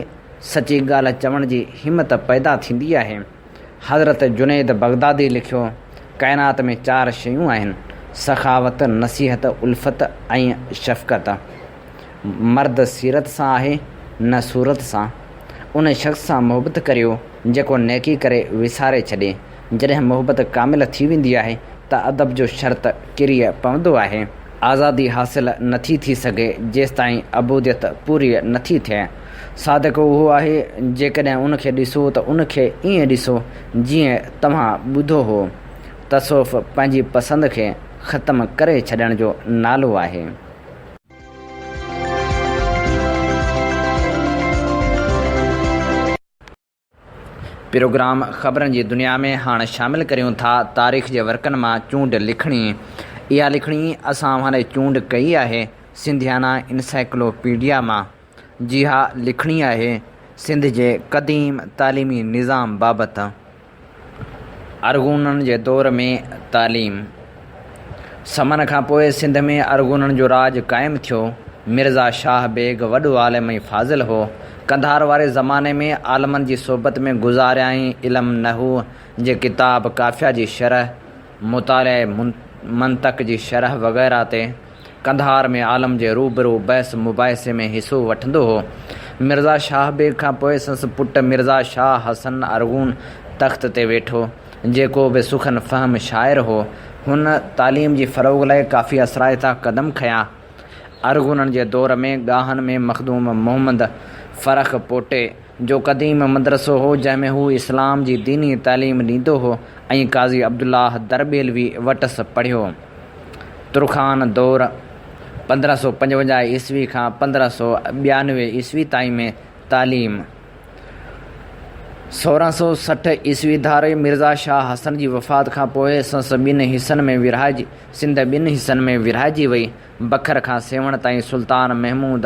سچي ڳالهه چوڻ جي همت پيدا ٿيندي آهي. حضرت جنيد بغدادي لکيو، ڪائنات ۾ چار شيون آهن، سخاوت، نصيحت، الفت ۽ شفقت. مرد سيرت سان آهي، نه صورت سان. ان شخص سان محبت ڪريو، جيڪو نيڪي ڪري وساري ڇڏي. جڏهن محبت ڪامل ٿي ويندي آهي ته ادب جو شرط ڪري پوندو آهي. آزادي حاصل نٿي ٿي سگهي، جيستائين عبوديت پوري نٿي ٿئي. صادق اهو آهي، جيڪڏهن ان کي ڏسو ته ان کي ائين ڏسو جيئن توهان ٻڌو هو. تصوف پنهنجي پسند کي ختم ڪري ڇڏڻ جو نالو آهي. پروگرام خبرن جي دنيا ۾ هاڻ شامل ڪريون ٿا تاريخ جي ورقن مان چونڊ لکڻي اها لکڻي اسان اوهان لاء چونڊ ڪئي آهي سنڌيانا انسائيڪلوپيڊيا مان جي ها لکڻي آهي سنڌ جي قديم تعليمي نظام بابت ارغونن جي دور ۾ تعليم. سمن کان پوء سنڌ ۾ ارغونن جو راڄ قائم ٿيو. مرزا شاهه بيگ وڏو عالم ۽ فاضل هو. قنڌار واري زماني ۾ عالمن جي صحبت ۾ گذاريائين. علم نحو جي ڪتاب، قافيه جي شرح، مطالعه منطق جي شرح وغيره تي قنڌار ۾ عالم جي روبرو بحث مباحثي ۾ حصو وٺندو هو. مرزا شاهه بيگ کان پوء سنس پٽ مرزا شاهه حسن ارغون تخت تي ويٺو، جيڪو به سخن فهم شاعر هو. هن تعليم جي فروغ لاء ڪافي اثرائتا قدم کنيا. ارغونن جي دور ۾ ڳاهن ۾ مخدوم محمد فرخ پوٽي، جو قديم مدرسو هو جنهن ۾ هو اسلام جي ديني تعليم ڏيندو هو ۽ قاضي عبدالله درٻيلوي وٽس پڙهيو. ترخان دور، پندرهن سؤ پنجونجاهه عيسوي کان پندرهن سؤ ٻيانوي عيسوي تائين ۾ تعليم، سورهن سؤ سٺ عيسوي ڌارئي مرزا شاهه حسن جي وفات کان پوء سنس ٻن حصن ۾ ورهائجي سنڌ ٻن حصن ۾ ورهائجي وئي. بکر کان سيوهڻ تائين سلطان محمود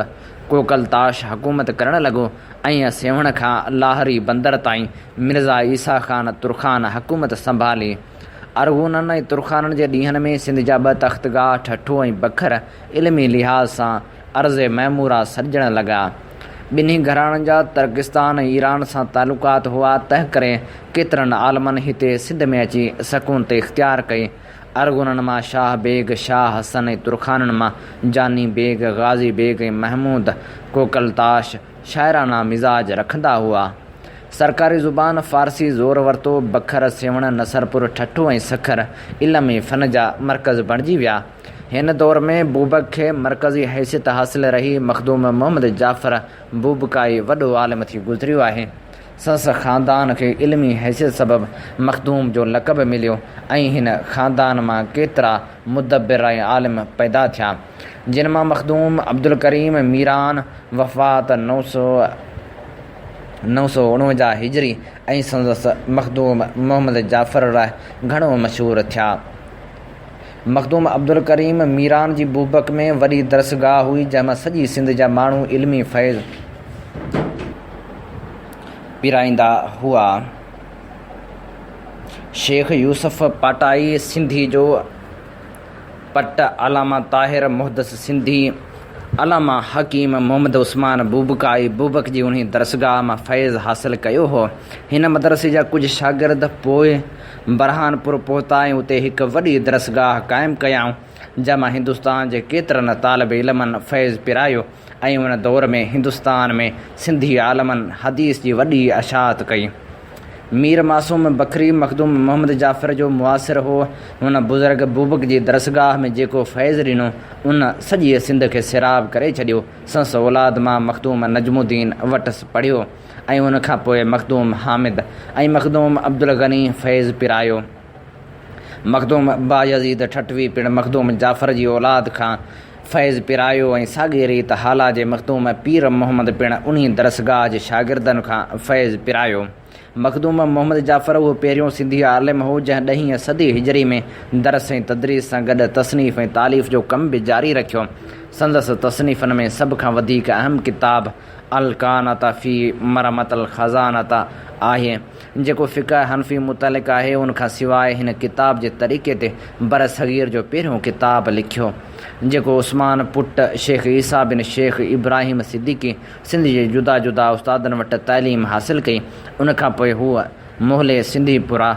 ڪوڪل تاش حڪومت ڪرڻ لڳو ۽ سيوهڻ کان لاهري بندر تائين مرزا عيسيٰ خان ترخان حڪومت سنڀالي. ارغونن ۽ ترخانن جي ڏينهن ۾ سنڌ جا ٻه تختگاهه ٺٽو ۽ بکر علمي لحاظ سان ارض معموره سڏجڻ لڳا. ٻنهي گهراڻن جا ترڪستان ۽ ايران سان تعلقات هئا، تنهنڪري ڪيترن عالمن هتي سنڌ ۾ اچي سڪونت اختيار ڪئي. ارغونن مان شاهه بيگ، شاهه حسن ۽ ترخانن مان جاني بيگ، غازي بيگ ۽ محمود ڪوڪلتاش شاعرانه مزاج رکندا هئا. سرڪاري زبان فارسي زور ورتو. بکر، سيوهڻ، نصرپور، ٺٽو ۽ سکر علم ۽ فن جا مرڪز بڻجي ويا. هن دور ۾ بوبڪ کي مرڪزي حيثيت حاصل رهي. مخدوم محمد جعفر بوبڪائي وڏو عالم ٿي گذريو آهي. سندس خاندان کي علمي حيثيت سبب مخدوم جو لقب مليو ۽ هن خاندان مان ڪيترا مدبر ۽ عالم پيدا ٿيا، جن مان مخدوم عبدالڪريم ميران، وفات نو سؤ نو سؤ اڻونجاهه هجري، ۽ سندس مخدوم محمد جعفر رح گهڻو مشهور ٿيا. مخدوم عبدالڪريم ميران جي بوبڪ ۾ وڏي درسگاهه هئي، جنهن مان سڄي سنڌ جا ماڻهو علمي فيض. پيرائيندا هئا. شيخ يوسف پاٽائي سنڌي جو پٽ، علامه طاهر محدث سنڌي، علامه حڪيم محمد عثمان بوبڪائي بوبڪ جي انهي درسگاهه مان فيض حاصل ڪيو هو. هن مدرسي جا ڪجهه شاگرد پوء برهانپور پهتا ۽ اتي هڪ وڏي درسگاهه قائم ڪيائون، جنهن مان هندستان جي ڪيترن طالب علمن فيض پيرايو. ۽ ان دور ۾ هندستان ۾ سنڌي عالمن حديث جي وڏي اشاعت ڪئي. مير معصوم بکري مخدوم محمد جعفر جو معاصر هو. هن بزرگ بوبڪ جي درسگاهه ۾ جيڪو فيض ڏنو، ان سڄيء سنڌ کي سيراب ڪري ڇڏيو. سنس اولاد مان مخدوم نجم الدين وٽس پڙهيو ۽ ان کان پوء مخدوم حامد ۽ مخدوم عبدالغني فيض پرايو. مخدوم بايزيد ٺٽوي پڻ مخدوم جعفر جي اولاد کان فيض پرايو ۽ ساڳي ريت هالا جي مخدوم پير محمد پڻ انهي درسگاهه جي شاگردن کان فيض پرايو. مخدوم محمد جعفر اهو پهريون سنڌي عالم هو جنهن ڏهين صدي هجري ۾ درس ۽ تدريس سان گڏ تصنيف ۽ تاليف جو ڪم به جاري رکيو. سندس تصنيفن ۾ سڀ کان وڌيڪ اهم ڪتاب القانطه في مرمت الخزانطه آهي. جيڪو فقه حنفي متعلق آهي، ان کان سواء هن ڪتاب جي طريقي تي برصغير جو پهريون ڪتاب لکيو، جيڪو عثمان پٽ شيخ عيسيٰ بن شيخ ابراهيم صديقي سنڌ جي جدا جدا استادن وٽ تعليم حاصل ڪئي، ان کان پوء هو مهلي سنڌيپورا،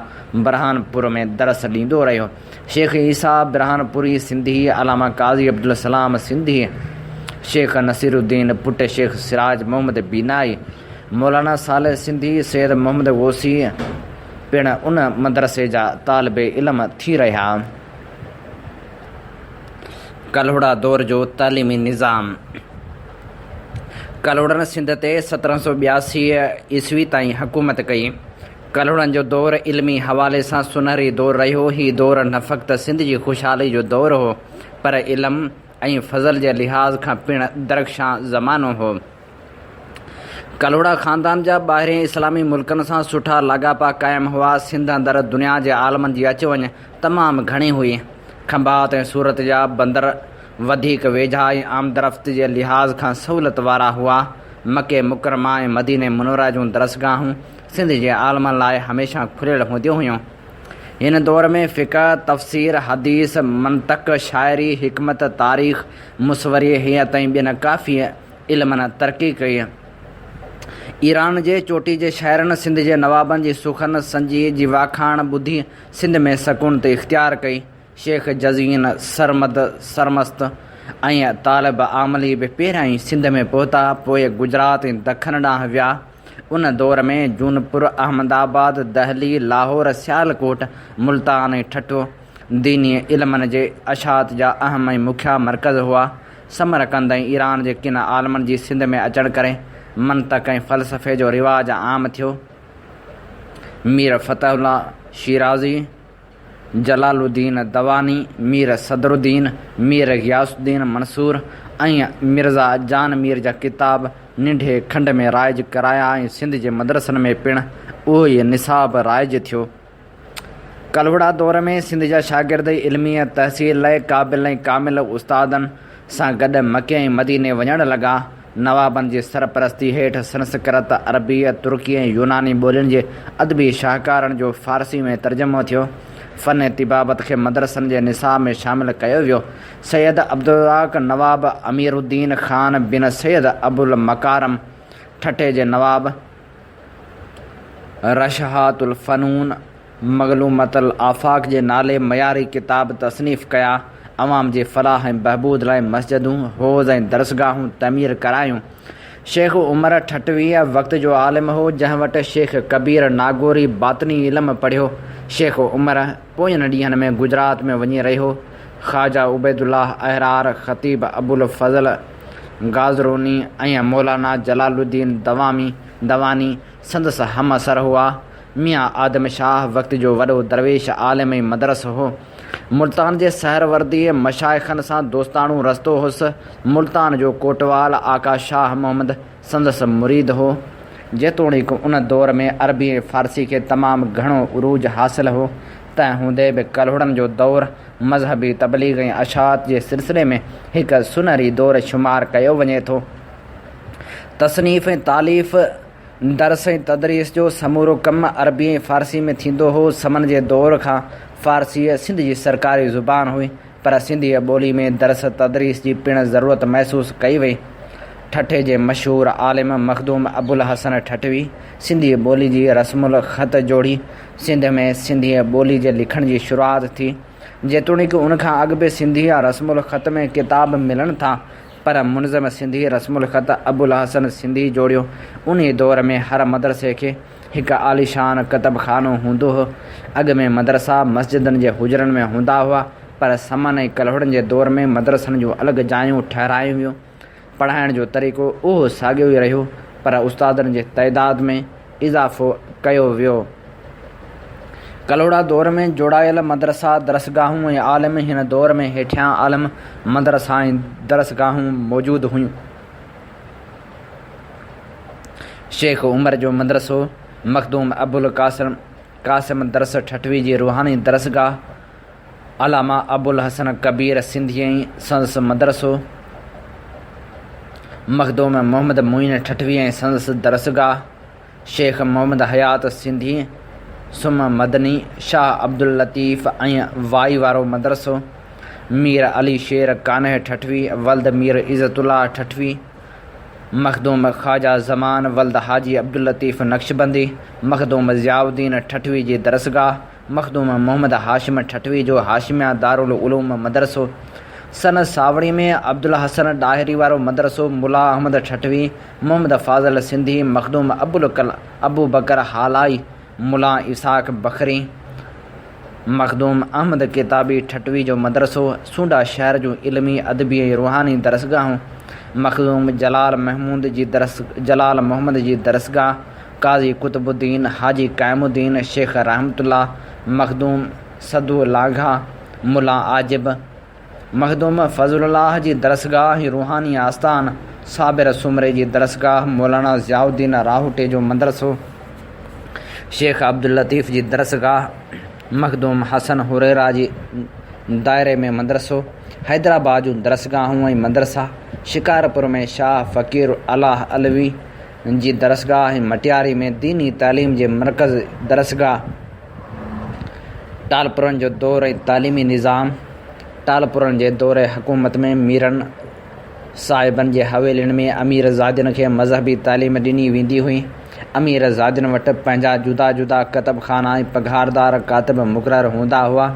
برهانپور، ۾ درس ڏيندو رهيو. شيخ عيسيٰ برهانپوري سنڌي، علامه قاضي عبدالسلام سنڌي، شيخ نصيرالدين پٽ شيخ سراج محمد بينائي، مولانا صالح سنڌي، سيد محمد غوثي پڻ ان مدرسي جا طالب علم ٿي رهيا. ڪلهوڙا دور جو تعليمي نظام ڪلهوڙن سنڌ تي سترهن سؤ ٻياسي عيسوي تائين حڪومت ڪئي. ڪلهوڙن جو دور علمي حوالي سان سونهري دور رهيو. هي دور نه فقط سنڌ جي خوشحالي جو دور هو پر علم ۽ فضل جي لحاظ کان پڻ درخشان زمانو هو. ڪلهوڙا خاندان جا ٻاهرين اسلامي ملڪن سان سٺا لاڳاپا قائم هئا. سنڌ اندر دنيا جي عالمن جي اچ وڃ تمام گهڻي هئي. کنڀات ۽ سورت جا بندر وڌيڪ ويجها ۽ آمدرفت جي لحاظ کان سهولت وارا هئا. مڪي مڪرمه ۽ مديني منوره جون درسگاهون سنڌ جي عالمن لاء هميشه کليل هونديون هيون. هن دور ۾ فقه، تفسير، حديث، منطق، شاعري، حڪمت، تاريخ، مصوري هيئن تائين ٻين ڪافي علمن ترقي ڪئي. ايران جي چوٽي جي شاعرن سنڌ جي نوابن جي سخن سنجيء جي واکاڻ ٻڌي سنڌ ۾ سڪونت اختيار ڪئي. شيخ جزين، سرمد، سرمست ۽ طالب عاملي به پهريائين سنڌ ۾ پهتا، پوء گجرات ۽ دکن ڏانهن ويا. ان دور ۾ جونپور، احمد آباد، دهلي، لاهور، سيالڪوٽ، ملتان ۽ ٺٽو ديني علمن جي اشاعت جا اهم ۽ مکيه مرڪز هئا. سمرقند ۽ ايران جي ڪن عالمن جي سنڌ ۾ اچڻ ڪري منطق ۽ فلسفي جو رواج عام ٿيو. مير فتح الله شيرازي. جلال الدين دواني، مير صدرالدين، مير غياث الدين منصور ۽ مرزا جان مير جا ڪتاب ننڍي کنڊ ۾ رائج ڪرايا ۽ سنڌ جي مدرسن ۾ پڻ اهو ئي نصاب رائج ٿيو. ڪلهوڙا دور ۾ سنڌ جا شاگرد علمي ۽ تحصيل لاء قابل ۽ ڪامل استادن سان گڏ مڪي ۽ مديني وڃڻ لڳا نوابن جي سرپرستيء هيٺ سنسڪرت، عربيء، ترڪيء ۽ يوناني ٻولين جي ادبي شاهڪارن جو فارسيء ۾ ترجمو ٿيو. فن طبابت کي مدرسن جي نصاب ۾ شامل ڪيو ويو. سيد عبدالرزاق نواب اميرالدين خان بن سيد ابوالمڪارم ٺٽي جي نواب رشحات الفنون، مغلومة الآفاق جي نالي معياري ڪتاب تصنيف ڪيا، عوام جي فلاح ۽ بهبود لاء مسجدون، حوض ۽ درسگاهون تعمير ڪرايون. شيخ عمر ٺٽويء وقت جو عالم هو، جنهن وٽ شيخ ڪبير ناگوري باطني علم پڙهيو. شيخ عمر پوين ڏينهن ۾ گجرات ۾ وڃي رهيو. خواجه عبيدالله احرار، خطيب ابوالفضل غازروني ۽ مولانا جلال الدين دوامي، دواني، سندس همعصر هئا. ميان آدم شاهه وقت جو وڏو درويش، عالم ۽ مدرس هو. ملتان جي سهروردي مشائخن سان دوستاڻو رستو هوس. ملتان جو ڪوٽوال آقا شاهه محمد سندس مريد هو. جيتوڻيڪ ان دور ۾ عربي ۽ فارسي کي تمام گهڻو عروج حاصل هو، تنهن هوندي به ڪلهوڙن جو دور مذهبي تبليغ ۽ اشاعت جي سلسلي ۾ هڪ سونهري دور شمار ڪيو وڃي ٿو. تصنيف ۽ تاليف، درس ۽ تدريس جو سمورو ڪم عربي ۽ فارسي ۾ ٿيندو هو. سمن جي دور کان فارسيء سنڌ جي سرڪاري زبان هئي، پر سنڌيء ٻوليء ۾ درس تدريس جي پڻ ضرورت محسوس ڪئي وئي. ٺٽي جي مشهور عالم مخدوم ابوالحسن ٺٽوي سنڌيء ٻوليء جي رسم الخط جوڙي. سنڌ ۾ سنڌيء ٻوليء جي لکڻ جي شروعات ٿي. جيتوڻيڪ ان کان اڳ به سنڌيء رسم الخط ۾ ڪتاب ملن ٿا، پر منظم سنڌي رسم الخط ابوالاحسن سنڌي جوڙيو. انهي دور ۾ هر مدرسي کي هڪ عاليشان ڪتب خانو هوندو هو. اڳ ۾ مدرسا مسجدن جي حجرن ۾ هوندا هئا، پر سمن ۽ ڪلهوڙن جي دور ۾ مدرسن جون الڳ جايون ٺهرايون ويون. پڙهائڻ جو طريقو اهو ساڳيو ئي رهيو، پر استادن جي تعداد ۾ اضافو ڪيو ويو. ڪلهوڙا دور ۾ جوڙايل مدرسا، درسگاهون ۽ عالم هن دور ۾ هيٺيان عالم مدرسا ۽ درسگاهون موجود هيون. شيخ عمر جو مدرسو، مخدوم ابوالقاسم درس ٺٽوي جي روحاني درسگاهه، علامه ابوالحسن ڪبير سنڌي ۽ سندس مدرسو، مخدوم محمد معين ٺٽوي ۽ سندس درسگاهه، شيخ محمد حيات سنڌي ثم مدني، شاهه عبداللطيف ۽ وائي وارو مدرسو، مير علي شير قانع ٺٽوي ولد مير عزت الله ٺٽوي، مخدوم خواجه زمان ولد حاجي عبداللطيف نقشبندي، مخدوم ضياء الدين ٺٽوي جي درسگاهه، مخدوم محمد هاشم ٺٽوي جو هاشميه دارالعلوم مدرسو، سنڌ ساوڙي ۾ عبدالحسن ڏاهري وارو مدرسو، ملا احمد ٺٽوي، محمد فاضل سنڌي، مخدوم ابوبڪر هالائي، ملا اسحاق بکري، مخدوم احمد ڪتابي ٺٽوي جو مدرسو، سونڊا شهر جون علمي، ادبي ۽ روحاني درسگاهون، مخدوم جلال محمد جي درسگاهه، قاضي قطب الدين، حاجي قائم الدين، شيخ رحمت الله، مخدوم سڌو لاگها، ملا عاجب، مخدوم فضل الله جي درسگاهه ۽ روحاني آستان، صابر سومري جي درسگاهه، مولانا ضياء الدين راهوٽي جو مدرسو، شيخ عبداللطيف جي درسگاهه، مخدوم حسن هريره جي دائري ۾ مدرسو، حيدرآباد جون درسگاهون ۽ مدرسا، شڪارپور ۾ شاهه فقير الله علوي، هن جي درسگاهه ۽ مٽياري ۾ ديني تعليم جي مرڪز درسگاهه ٽالپرن جو دور ۽ تعليمي نظام ٽالپرن جي دور حڪومت ۾ ميرن صاحبن جي حويلين ۾ امير زادين کي مذهبي تعليم ڏني ويندي هئي امير زادين وٽ پنهنجا جدا جدا ڪتب خانا ۽ پگهاردار ڪاتب مقرر هوندا هئا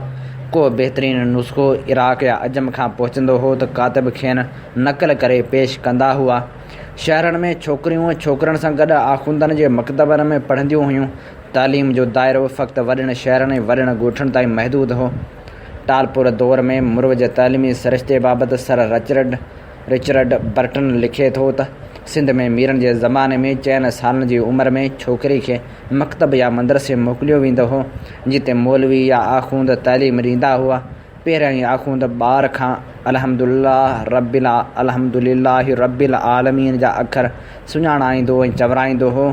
ڪو بهترين نسخو عراق يا عجم کان پهچندو هو ته ڪاتب کين نقل ڪري پيش ڪندا هئا شهرن ۾ ڇوڪريون ڇوڪرن سان گڏ آخوندن جي مڪتبن ۾ پڙهنديون هيون. تعليم جو دائرو فقط وڏين شهرن ۽ وڏين ڳوٺن تائين محدود هو. ٽالپور دور ۾ مروج تعليمي سرشتي بابت سر رچرڊ، Richard، برٽن لکي ٿو ته، سنڌ ۾ ميرن جي زماني ۾ چئن سالن جي عمر ۾ ڇوڪري کي مڪتب يا مدرسي موڪليو ويندو هو، جتي مولوي يا آخوند تعليم ڏيندا هئا. پهريائين آخوند ٻار کان الحمدالله رب الحمدالله رب العالمين جا اکر سڃاڻائيندو ۽ چورائيندو هو.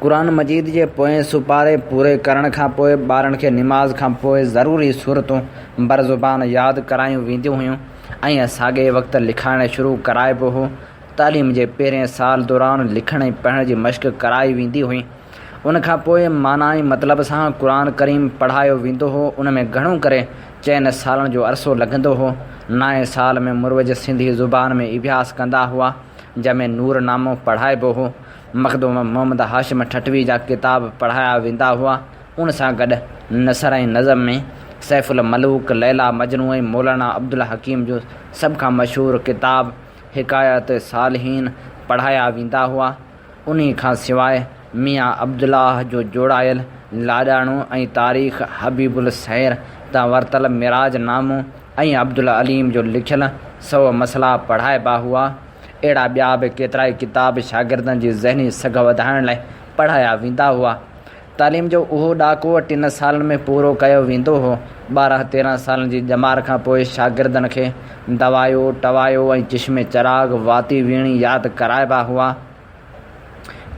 قرآن مجيد جي پوئين سپاري پوري ڪرڻ کان پوء ٻارن کي نماز کان پوء ضروري سورتون بر زبان ياد ڪرايون وينديون هيون ۽ ساڳئي وقت لکائڻ شروع ڪرائبو هو. تعليم جي پهرين سال دوران لکڻ ۽ پڙهڻ جي مشق ڪرائي ويندي هئي. ان کان پوء معنيٰ ۽ مطلب سان قرآن ڪريم پڙهايو ويندو هو، ان ۾ گهڻو ڪري چئن سالن جو عرصو لڳندو هو، نائين سال ۾ مروج سنڌي زبان ۾ اڀياس ڪندا هئا، جنهن ۾ نور نامو پڙهائبو هو، مخدوم محمد هاشم ٺٽوي جا ڪتاب پڙهايا ويندا هئا، ان سان گڏ نثر ۽ نظم ۾ سيف الملوڪ، ليليٰ مجنون ۽ مولانا عبدالحڪيم جو سڀ کان مشهور ڪتاب حڪايات صالحين پڙهايا ويندا هئا. انهي کان سواء ميان عبدالله جو جوڙايل لاڏاڻو ۽ تاريخ حبيب السحر تان ورتل معراج نامو ۽ عبدالعليم جو لکيل سؤ مسئلا پڙهائبا هئا. اهڙا ٻيا به ڪيترائي ڪتاب شاگردن جي ذهني سگهه وڌائڻ لاء پڙهايا ويندا هئا. تعليم جو اهو ڏاڪو ٽن سالن ۾ پورو ڪيو ويندو هو. ٻارهن تيرهن سالن جي ڄمار کان پوء شاگردن کي دوايو، ٽوايو ۽ چشمي چراغ، واتي ويڻي ياد ڪرائبا هئا.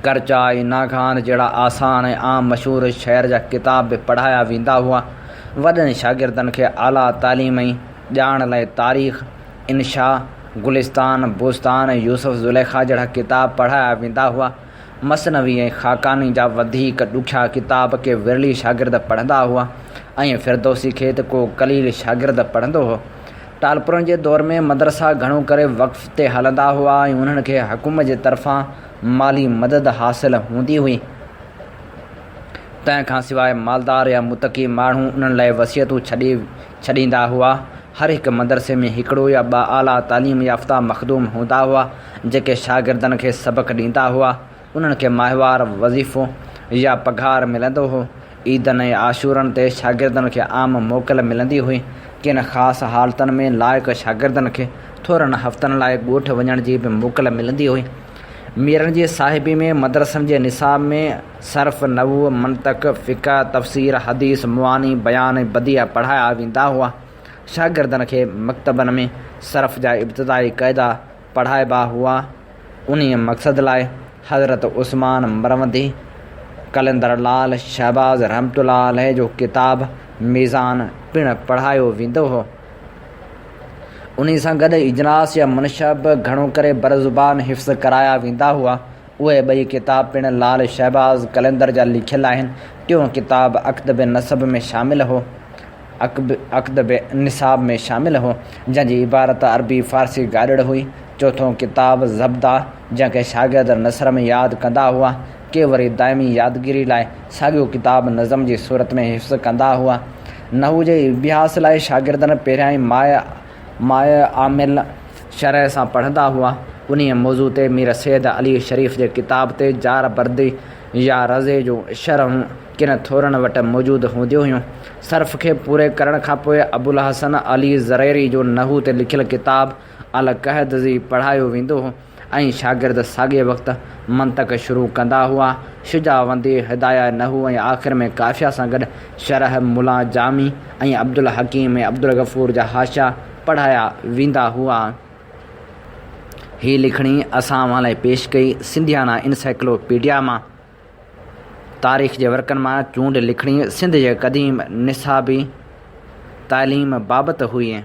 ڪرچا ۽ ناگهان جهڙا آسان ۽ عام مشهور شعر جا ڪتاب به پڙهايا ويندا هئا. وڏن شاگردن کي اعليٰ تعليم ۽ ڄاڻ لاء تاريخ، انشاء، گلستان، بوستان ۽ يوسف زليخا جهڙا ڪتاب پڙهايا ويندا هئا. مثنوي ۽ خاقاني جا وڌيڪ ڏکيا ڪتاب ڪي ورلي شاگرد پڙهندا هئا ۽ فردوسي کي ته ڪو قليل شاگرد پڙهندو هو. ٽالپرن جي دور ۾ مدرسا گهڻو ڪري وقف تي هلندا هئا ۽ انهن کي حڪومت جي طرفان مالي مدد حاصل هوندي هئي. تنهن کان سواء مالدار يا متقي ماڻهو انهن لاء وصيتون ڇڏي ڇڏيندا هئا هر هڪ مدرسي ۾ هڪڙو يا ٻه اعليٰ تعليم يافته مخدوم هوندا هئا، جيڪي شاگردن کي سبق ڏيندا هئا. انهن کي ماهوار وظيفو يا پگهار ملندو هو. عيدن ۽ عاشورن تي شاگردن کي عام موڪل ملندي هئي. ڪن خاص حالتن ۾ لائق شاگردن کي ٿورن هفتن لاء ڳوٺ وڃڻ جي به موڪل ملندي هئي. ميرن جي صاحبي ۾ مدرسن جي نصاب ۾ صرف نحو، منطق، فقه، تفسير، حديث، معاني، بيان ۽ بديع پڙهايا ويندا هئا. شاگردن کي مڪتبن ۾ صرف جا ابتدائي قاعدا پڙهائبا هئا. انهيء مقصد لاء حضرت عثمان مروندي، قلندر لعل شهباز رحمة الله عليه جو ڪتاب ميزان پڻ پڙهايو ويندو هو. انهي سان گڏ اجناس يا منشا به گهڻو ڪري بر زبان حفظ ڪرايا ويندا هئا. اهي ٻئي ڪتاب پڻ لعل شهباز قلندر جا لکيل آهن. ٽيون ڪتاب اڪتب نسب ۾ شامل هو، اڪتب نساب ۾ شامل هو، جنهن جي عبارت عربي فارسي گڏڙ هئي. چوٿون ڪتاب زبده، جنهن کي شاگرد نثر ۾ ياد ڪندا هئا، ڪي وري دائمي يادگيري لاء ساڳيو ڪتاب نظم جي صورت ۾ حفظ ڪندا هئا. نحو جي اڀياس لاء شاگردن پهريائين ماء عامل، شرح سان پڙهندا هئا. انهيء موضوع تي مير سيد علي شريف جي ڪتاب تي جار بردي يا رضي جون شرحون ڪن ٿورن وٽ موجود هونديون هيون. صرف کي پوري ڪرڻ کان پوء ابوالحسن علي زريري جو نحو تي لکيل ڪتاب القحطزي پڙهايو ويندو هو ۽ شاگرد ساڳئي وقت منطق شروع ڪندا هئا، شجاعوندي، هدايه نحو ۽ آخر ۾ قافيه سان گڏ شرح ملا جامي ۽ عبدالحڪيم ۽ عبدالغفور جا حاشيا، پڙهايا ويندا هئا. هي لکڻي اسان اوهان لاء پيش ڪئي سنڌياڻا انسائيڪلو پيڊيا مان. تاريخ جي ورقن مان چونڊ لکڻي سنڌ جي قديم نصابي تعليم بابت هئي.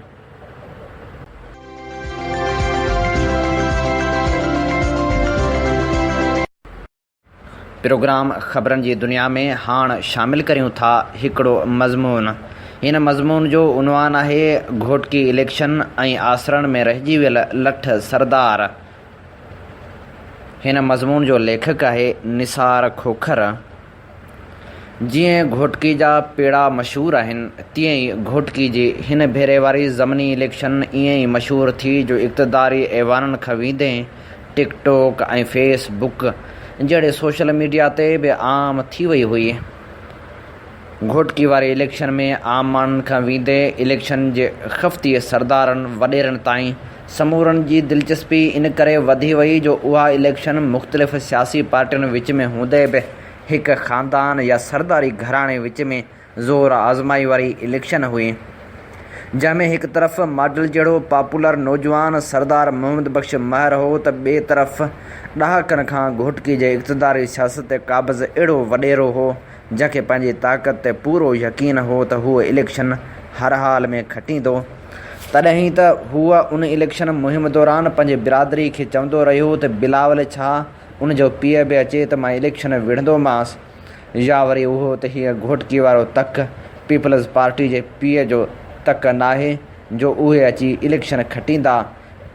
پروگرام خبرن جي دنيا ۾ هاڻ شامل ڪريون ٿا هڪڙو مضمون. هن مضمون جو عنوان آهي گهوٽڪي اليڪشن ۽ آسرڻ ۾ رهجي ويل لٺ سردار. هن مضمون جو ليکڪ آهي نثار کوکر. جيئن گهوٽڪي جا پيڙا مشهور آهن تيئن ئي گهوٽڪي جي هن ڀيري واري ضمني اليڪشن ائين ئي مشهور ٿي جو اقتداري ايوانن کان ويندي ٽڪ ٽوڪ ۽ فيس بڪ جهڙي سوشل ميڊيا تي به عام ٿي وئي هئي. گهوٽڪي واري اليڪشن ۾ عام ماڻهن کان ويندي اليڪشن جي خفتي سردارن وڏيرن تائين سمورن جي دلچسپي ان ڪري وڌي وئي جو اها اليڪشن مختلف سياسي پارٽين وچ ۾ هوندي به هڪ خاندان يا سرداري گهراڻي وچ ۾ زور آزمائي واري اليڪشن هئي، جنهن ۾ هڪ طرف ماڊل جهڙو پاپولر نوجوان سردار محمد بخش مهر هو ته ٻئي طرف ڏهاڪن کان گهوٽڪي جي اقتداري سياست تي قابض اهڙو وڏيرو هو، جنهن کي پنهنجي طاقت تي پورو يقين هو ته هو اليڪشن هر حال ۾ کٽيندو. تڏهن ته هو ان اليڪشن مهم دوران پنهنجي برادري کي چوندو رهيو ته بلاول ڇا ان جو پيء به اچي ته مان اليڪشن وڙهندومانس يا وري اهو ته هيء گهوٽڪي وارو تڪ پيپلز پارٽي جي پيء جو تڪ ناهي جو اهي اچي اليڪشن کٽيندا.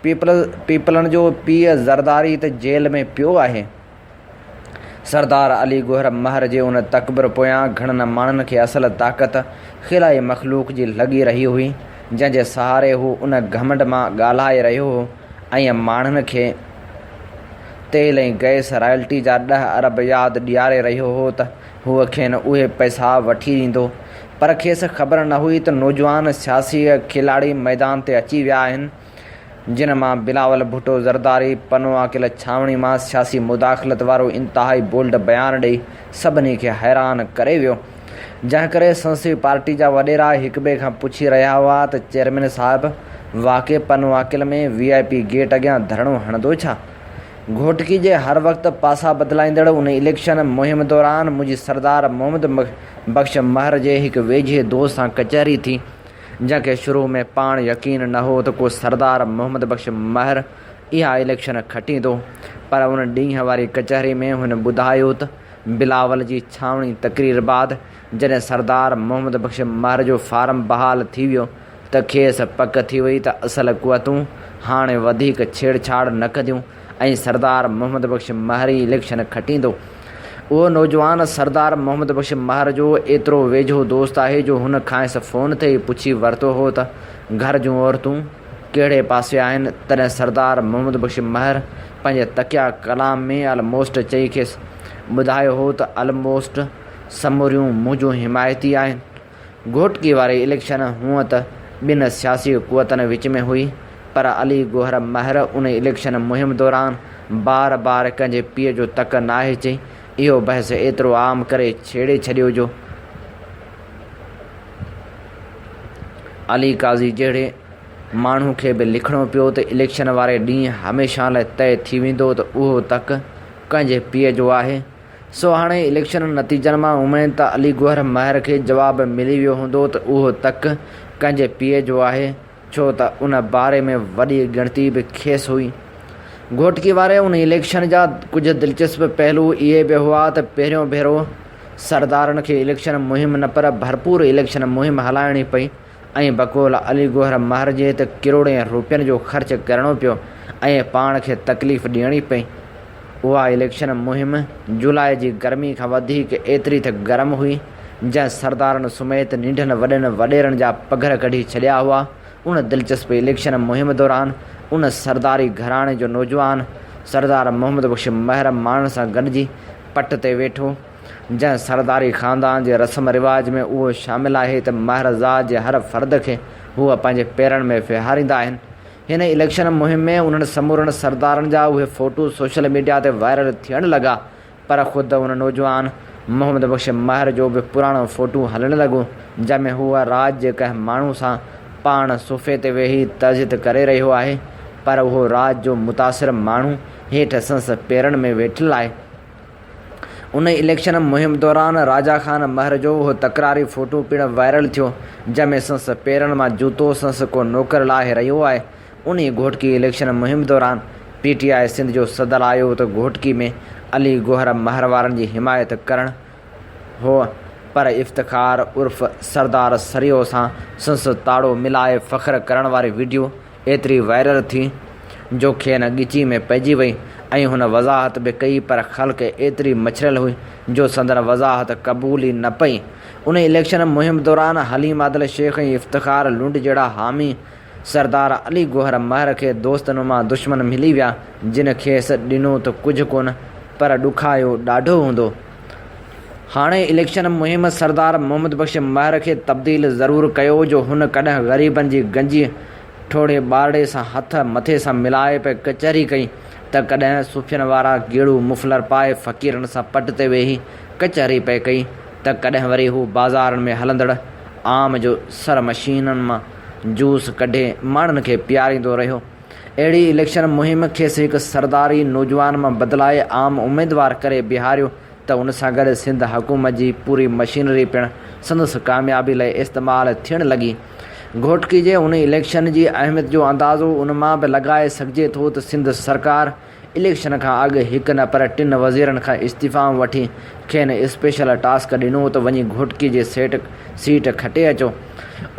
پيپلز پيپلن جو پيء زرداري ته جيل ۾ پيو آهي. سردار علي گوهر مهر جي ان تڪبر پويان گهڻن ماڻهن کي اصل طاقت خلائي مخلوق جي لڳي رهي هئي، جنهن جي سهاري هو ان گهمنڊ مان ڳالهائي رهيو هو ۽ ماڻهن کي تيل ۽ گئس رائلٽي جا ڏهه ارب ياد ڏياري رهيو هو ته هو کين اهي پئسا وٺي ڏيندو پر کيس خبر نه هئي ته نوجوان سياسي کلاڙي ميدان تي اچي ويا آهن جن مان بلاول ڀٽو زرداري پنواڪل ڇانوڻي مان سياسي مداخلت وارو انتهائي بولڊ بيان ڏئي سڀني کي حيران ڪري ويو. جنهن ڪري سنسي پارٽي جا وڏيرا هڪٻئي کان پڇي رهيا هئا ته چيئرمين صاحب واقعي پن واڪل ۾ وي آء پي گيٽ اڳيان ڌرڻو هڻندو ڇا؟ گهوٽڪي جي هر وقت پاسا بدلائيندڙ ان اليڪشن مهم دوران منهنجي سردار محمد بخش مهر جي هڪ ويجهي دوست سان ڪچهري ٿي جنهن کي شروع ۾ پاڻ يقين نه هو ته ڪو سردار محمد بخش مهر اها اليڪشن کٽيندو پر ان ڏينهن واري ڪچهري ۾ هن ٻڌايو ته بلاول جي ڇانوڻي تقرير بعد جڏهن سردار محمد بخش مهر جو فارم بحال ٿي ويو ته کيس پڪ ٿي وئي ته اصل قوتون هاڻي وڌيڪ ڇيڙ ڇاڙ نه ڪنديون ۽ سردار محمد بخش مهر ئي اليڪشن کٽيندو. اهو نوجوان سردار محمد بخش مهر جو ايترو ويجهو دوست آهي جو هن کانئس فون تي ئي پڇي ورتو هو ته گهر جون عورتون ڪهڙي پاسي آهن، تڏهن سردار محمد بخش مهر پنهنجي تڪيا ڪلام ۾ الموسٽ چئي کيس ٻڌايو هو ته الموسٽ سموريون منهنجون حمايتي آهن. گهوٽڪي واري اليڪشن هونئن ته ٻن سياسي قوتن وچ ۾ هئي پر علي گوهر مهر ان اليڪشن مهم دوران بار بار ڪنهنجي پيء جو تڪ ناهي چئي اهو بحث ايترو عام ڪري ڇيڙي ڇڏيو جو علي قاضي جهڙي ماڻهو کي به لکڻو پيو ته اليڪشن واري ڏينهن هميشه لاء طئي ٿي ويندو ته اهو تڪ ڪنهن جي پيء جو آهي. سو هاڻي اليڪشن نتيجن مان اميد ته علي گوهر مهر کي جواب ملي ويو هوندو ته اهو تڪ ڪنهن جي پيء جو آهي. ڇو ته ان باري ۾ وڏي ڳڻتي به کيس هئي. گهوٽڪي واري ان اليڪشن جا ڪجهه دلچسپ پهلو اهي به هئا ته پهريون ڀيرو سردارن کي اليڪشن مهم نه پر ڀرپور اليڪشن مهم هلائڻي پئي ۽ بقول علي گوهر مهر جي ته ڪروڙين روپين جو خرچ ڪرڻو پيو ۽ پاڻ کي تڪليف ڏيڻي پئي. اها اليڪشن مهم جولاء جي گرمي کان وڌيڪ ايتري ته گرم هئي، جنهن سردارن سميت ننڍن وڏن وڏيرن جا پگهر ڪڍي ڇڏيا هئا. ان دلچسپ اليڪشن مهم دوران ان سرداري گهراڻي جو نوجوان سردار محمد بخش مهر ماڻهن سان گڏجي پٽ تي ويٺو، جنهن سرداري خاندان جي رسم رواج ۾ اهو شامل آهي ته مهرزاد جي هر فرد کي هو پنهنجي پيرن ۾ ويهاريندا آهن. هن اليڪشن مهم ۾ انهن سمورن سردارن جا اهي فوٽو سوشل ميڊيا تي وائرل ٿيڻ لڳا پر خود ان نوجوان محمد بخش مهر جو به پراڻو فوٽو هلڻ لڳو جنهن ۾ هو راڄ جي ڪنهن ماڻهو سان پاڻ صوفي تي ويهي تعزيت ڪري رهيو آهي پر اهو راڄ جو متاثر ماڻهو هيٺ سنس پيرن ۾ ويٺل آهي. ان اليڪشن مهم دوران راجا خان مهر جو اهو تڪراري فوٽو پڻ وائرل ٿيو، جنهن ۾ سنس پيرن مان جوتو سنس ڪو نوڪر لاهي رهيو آهي. انهي گهوٽڪي اليڪشن مهم دوران پي ٽي آء سنڌ جو صدر آيو ته گهوٽڪي ۾ علي گوهر مهر وارن جي حمايت ڪرڻ هئ پر افتخار عرف سردار سريو سان سنس تاڙو ملائي فخر ڪرڻ واري وڊيو ايتري وائرل ٿي جو کين ڳچي ۾ پئجي وئي ۽ هن وضاحت به ڪئي پر خلق ايتري مڇريل هئي جو سندن وضاحت قبول ئي نه پئي. ان اليڪشن مهم دوران حليم عادل شيخ ۽ افتخار لنڊ جهڙا حامي سردار علي گوهر مهر کي دوست نما دشمن ملي ويا جن کيس ڏنو ته ڪجهه ڪونه پر ڏکايو ڏاڍو هوندو. هاڻي اليڪشن مهم سردار محمد بخش مهر کي تبديل ضرور ڪيو جو هن ڪڏهن غريبن جي گنجي ٺوڙهي ٻارڙي سان هٿ مٿي سان ملائي پئي ڪچهري ڪئي ته ڪڏهن صوفين وارا گيڙو مفلر پائي فقيرن سان پٽ تي ويهي ڪچهري پئي ڪئي ته ڪڏهن وري هو بازارن ۾ هلندڙ آم جو سر مشينن مان جوس ڪڍي ماڻهن کي پياريندو رهيو. اهڙي اليڪشن مهم کيس هڪ سرداري نوجوان مان بدلائي عام اميدوار ڪري بيهاريو ته ان سان گڏ سنڌ حڪومت جي پوري مشينري پڻ سندس ڪاميابي لاء استعمال ٿيڻ لڳي. گهوٽڪي جي ان اليڪشن جي اهميت جو اندازو ان مان به لڳائي سگهجي ٿو ته سنڌ سرڪار اليڪشن کان اڳ هڪ نه پر ٽن وزيرن کان استعفائون وٺي کين اسپيشل ٽاسڪ ڏنو ته وڃي گهوٽڪي جي سيٽ سيٽ کٽي اچو.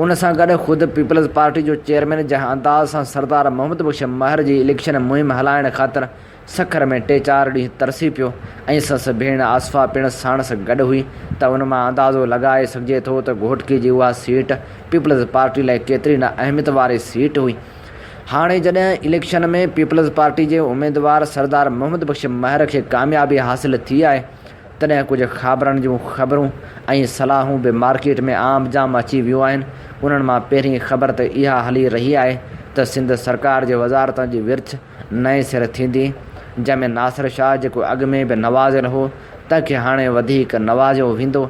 ان سان گڏ خود پيپلز پارٽي جو چيئرمين جنهن انداز سان سردار محمد بخش مهر جي اليڪشن مهم هلائڻ خاطر سکر ۾ ٽي چار ڏينهن ترسي پيو ۽ سس ڀيڻ آصفا پڻ ساڻس گڏ هئي ته ان مان اندازو لڳائي سگهجي ٿو ته گهوٽڪي جي اها سيٽ پيپلز پارٽي لاء ڪيتري نه اهميت واري سيٽ هئي. هاڻي جڏهن اليڪشن ۾ پيپلز پارٽي جي اميدوار سردار محمد بخش مهر کي ڪاميابي حاصل ٿي آهي تڏهن ڪجهه خابرن جون خبرون ۽ صلاحون به مارڪيٽ ۾ عام جام اچي ويون آهن انهن مان پهرين خبر ته اها هلي رهي آهي ته سنڌ سرڪار جي وزارتن جي ورڇ نئين سر ٿيندي جنهن ۾ ناصر شاهه جيڪو اڳ ۾ به نوازيل هو تنهن کي هاڻي وڌيڪ نوازيو ويندو.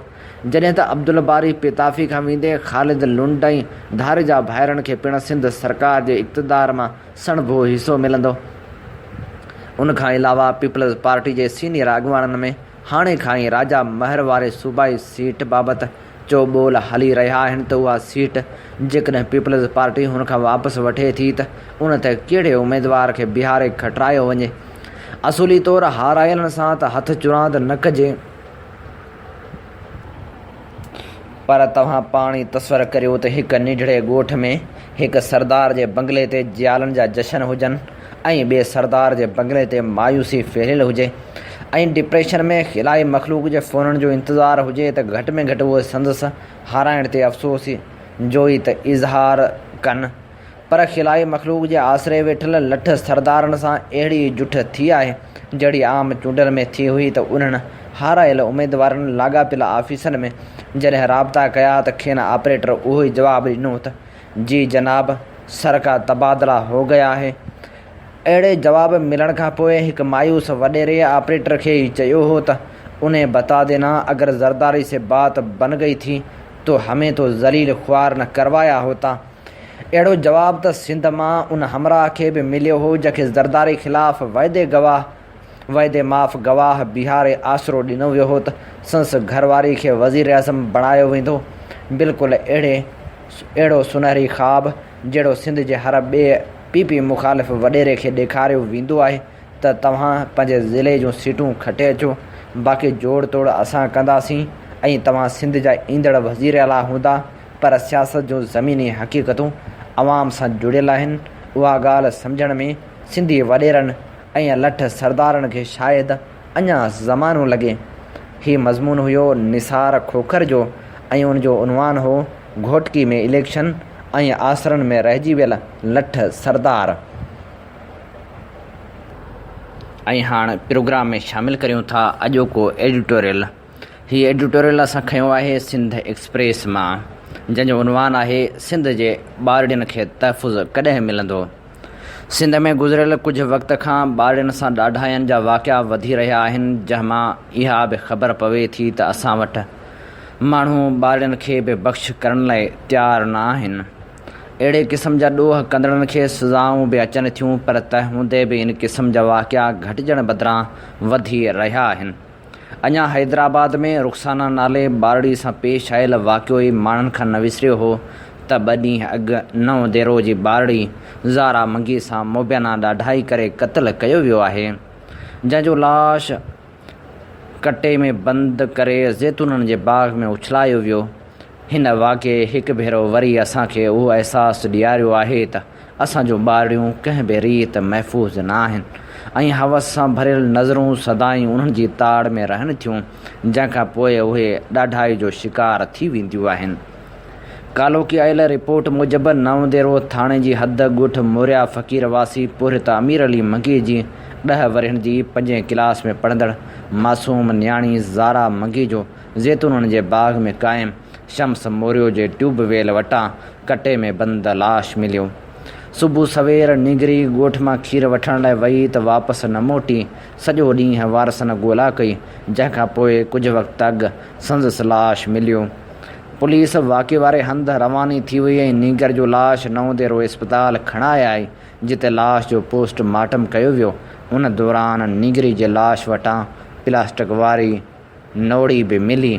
جڏهن ته عبدالباري پتافي کان ويندي خالد لنڊ ۽ ڌاريجا ڀائرن کي پڻ سنڌ سرڪار جي اقتدار مان سڻڀو حصو ملندو. ان کان علاوه پيپلز پارٽي جي سينيئر اڳواڻن ۾ هاڻي کان ئي راجا مهر واري صوبائي سيٽ بابت چؤ ٻول هلي رهيا آهن ته اها سيٽ جيڪڏهن پيپلز پارٽي هن کان واپس وٺي ٿي ته ان تي ڪهڙي اميدوار کي بيهاري کٽرايو وڃي. اصولي طور هارايلن سان ته هٿ چراند نه ڪجي. پر توهان پاڻ ئي تصور ڪريو ته هڪ ننڍڙي ڳوٺ ۾ هڪ سردار جي بنگلي تي جيالن جا جشن هجن ۽ ٻئي سردار جي بنگلي تي مايوسي ڦهليل هجي ۽ ڊپريشن ۾ خلائي مخلوق جي فونن جو انتظار هجي ته گهٽ ۾ گهٽ اهي سندس هارائڻ تي افسوس جوئي ته اظهار ڪن. پر خلائي مخلوق جي آسري ويٺل لٺ سردارن سان اهڙي جٺ ٿي آهي، جهڙي عام چونڊن ۾ ٿي هئي ته انهن هارايل اميدوارن لاڳاپيل آفيسن ۾ جڏهن رابطا ڪيا ته کين آپريٽر اهو ئي جواب ڏنو ته جي جناب، سر ڪا تبادلا هو گيا هي. اهڙي جواب ملڻ کان پوء هڪ مايوس وڏيري آپريٽر کي هي چيو هو ته انهين بتا دينا اگر زرداري سي بات بن گئي ٿي تو همين تو ذليل خوار نه ڪروايا هوتا. اهڙو جواب ته سنڌ مان ان همراهه کي به مليو هو جنکي زرداري خلاف وعدي گواهه وعدي معاف گواهه بيهاري آسرو ڏنو ويو هو ته سنس گهر واري کي وزيراعظم بڻايو ويندو بلڪل اهڙي اهڙو سونهري خواب جهڙو سنڌ جي هر ٻئي پي پي مخالف وڏيري کي ڏيکاريو ويندو آهي ته توهان پنهنجي ضلعي جون سيٽون کٽي اچو باقي جوڙ توڙ اسان ڪنداسين ۽ توهان سنڌ جا ايندڙ وزيراعليٰ هوندا پر سياست جون زميني حقيقتون عوام سان جڙيل آهن، اها ڳالهه سمجهڻ ۾ سنڌي وڏيرن ۽ لٺ سردارن کي شايد اڃا زمانو لڳي. هي مضمون هيو نثار کوکر جو ۽ ان جو عنوان هو گهوٽڪي ۾ اليڪشن ۽ آسرن ۾ رهجي ويل لٺ سردار. ۽ هاڻ پروگرام ۾ شامل ڪريون ٿا اڄوڪو ايڊيٽوريل. هي ايڊيٽوريل اسان کنيو آهي سنڌ ايڪسپريس مان جنهن جو عنوان آهي سنڌ جي ٻارڙين کي تحفظ ڪڏهن ملندو؟ سنڌ ۾ گذريل ڪجهه وقت کان ٻارڙين سان ڏاڍاين جا واقعا وڌي رهيا آهن جنهن مان اها به خبر پوي ٿي ته اسان وٽ ماڻهو ٻارڙين کي به بخش ڪرڻ لاء تيار نه آهن اهڙي قسم جا ڏوهه ڪندڙن کي سزائون به اچن ٿيون پر تنهن هوندي به ان قسم جا واقعا گهٽجڻ بدران وڌي رهيا آهن. اڃا حيدرآباد ۾ رخسانا نالي ٻارڙي سان پيش آيل واقعو ئي ماڻهن کان نه وسريو هو ته ٻه ڏينهن اڳ نو ديرو جي ٻارڙي زارا منگي سان مبينا ڏاڍائي ڪري قتل ڪيو ويو آهي جنهن جو لاش ڪٽي ۾ بند ڪري زيتونن جي باغ ۾ اڇلايو ويو هن واقعي هڪ ڀيرو وري اسان کي اهو احساس ڏياريو آهي ته اسان جون ٻارڙيون ڪنهن به ريت محفوظ نه آهن ۽ هوس سان ڀريل نظرون سدائين انهن جي تاڙ ۾ رهن ٿيون، جنهن کان پوء اهي ڏاڍائي جو شڪار ٿي وينديون آهن. ڪالهوڪي آيل رپورٽ موجب نئون ديرو ٿاڻي جي حد ڳوٺ موريا فقير واسي پورهيت امير علي منگي جي ڏهه ورهين جي پنجين ڪلاس ۾ پڙهندڙ معصوم نياڻي زارا منگي جو زيتونن جي باغ ۾ قائم شمس موريو جي ٽيوب ويل وٽان ڪٽي ۾ بند لاش مليو. صبح سوير نينگري ڳوٺ مان کير وٺڻ لاء وئي ته واپس نه موٽي، سڄو ڏينهن وارثن ڳولا ڪئي، جنهن کان پوء ڪجهه وقت اڳ سندس لاش مليو. پوليس واقعي واري هنڌ رواني ٿي وئي ۽ نينگر جو لاش نئون ديرو اسپتال کڻائي آئي، جتي لاش جو پوسٽ مارٽم ڪيو ويو، ان دوران نينگري جي لاش وٽان پلاسٽڪ واري، نوڙي به ملي.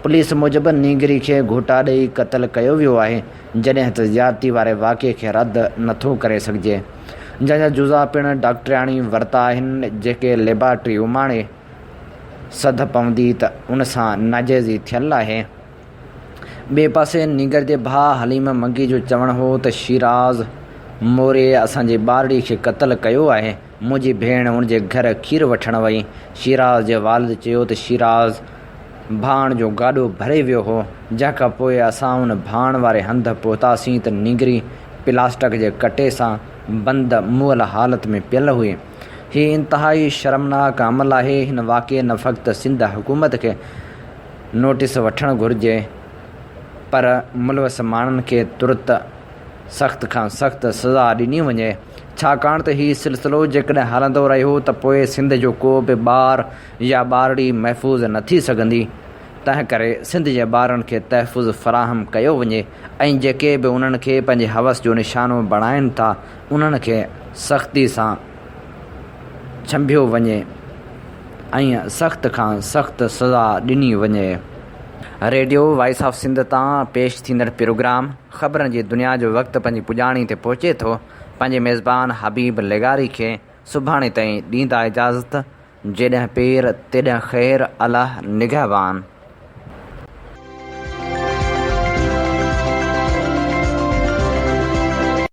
پوليس موجب نينگري کي گهوٽا ڏئي قتل ڪيو ويو آهي، جڏهن ته زيادتي واري واقعي کي رد نٿو ڪري سگهجي، جنهن جا جزا پڻ ڊاڪٽرياڻي ورتا آهن، جيڪي ليبارٽري اماڻي سڌ پوندي ته ان سان ناجائزي ٿيل آهي. ٻئي پاسي نينگر جي ڀاء حليم منگي جو چوڻ هو ته شيراز موريء اسان جي ٻارڙي کي قتل ڪيو آهي، منهنجي ڀيڻ ان جي گهر کير وٺڻ وئي. شيراز جي والد چيو ته شيراز ڀاڻ جو گاڏو ڀري ويو هو، جنهن کان پوء اسان ان ڀاڻ واري هنڌ پهتاسين ته نينگري پلاسٽڪ جي ڪٽي سان بند مئل حالت ۾ پيل هئي. هي انتهائي شرمناڪ عمل آهي، هن واقعي نه فقط سنڌ حڪومت کي نوٽيس وٺڻ گهرجي پر ملوث ماڻهن کي ترت سخت کان سخت سزا ڏني وڃي. ڇاڪاڻ ته هي سلسلو جيڪڏهن هلندو رهيو ته پوء سنڌ جو ڪو به ٻار يا ٻارڙي محفوظ نه ٿي سگهندي، تنهن ڪري سنڌ جي ٻارن کي تحفظ فراهم ڪيو وڃي ۽ جيڪي به انهن کي پنهنجي هوس جو نشانو بڻائين ٿا انهن کي سختي سان ڇنڀيو وڃي ۽ سخت کان سخت سزا ڏني وڃي. ريڊيو وائس آف سنڌ تان پيش ٿيندڙ پروگرام. خبرن جي دنيا جو وقت پنهنجي پڄاڻي تي پهچي ٿو، پنهنجي ميزبان حبيب لغاري کي سڀاڻي تائين ڏيندا اجازت، جيڏهن پير تيڏهن خير الله نگهبان.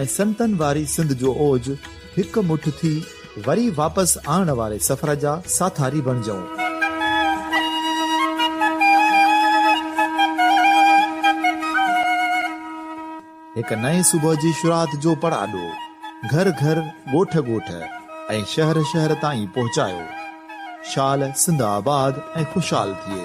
۽ سنتن واري سنڌ جو اوج هڪ مٺ ٿي وري واپس آڻڻ واري سفر جا ساٿاري بڻجئون. هڪ نئين صبح جي شروعات جو پڙاڏو گهر گهر، ڳوٺ ڳوٺ ۽ شهر شهر تائين پهچايو. شال سنڌ آباد ۽ خوشحال ٿئي.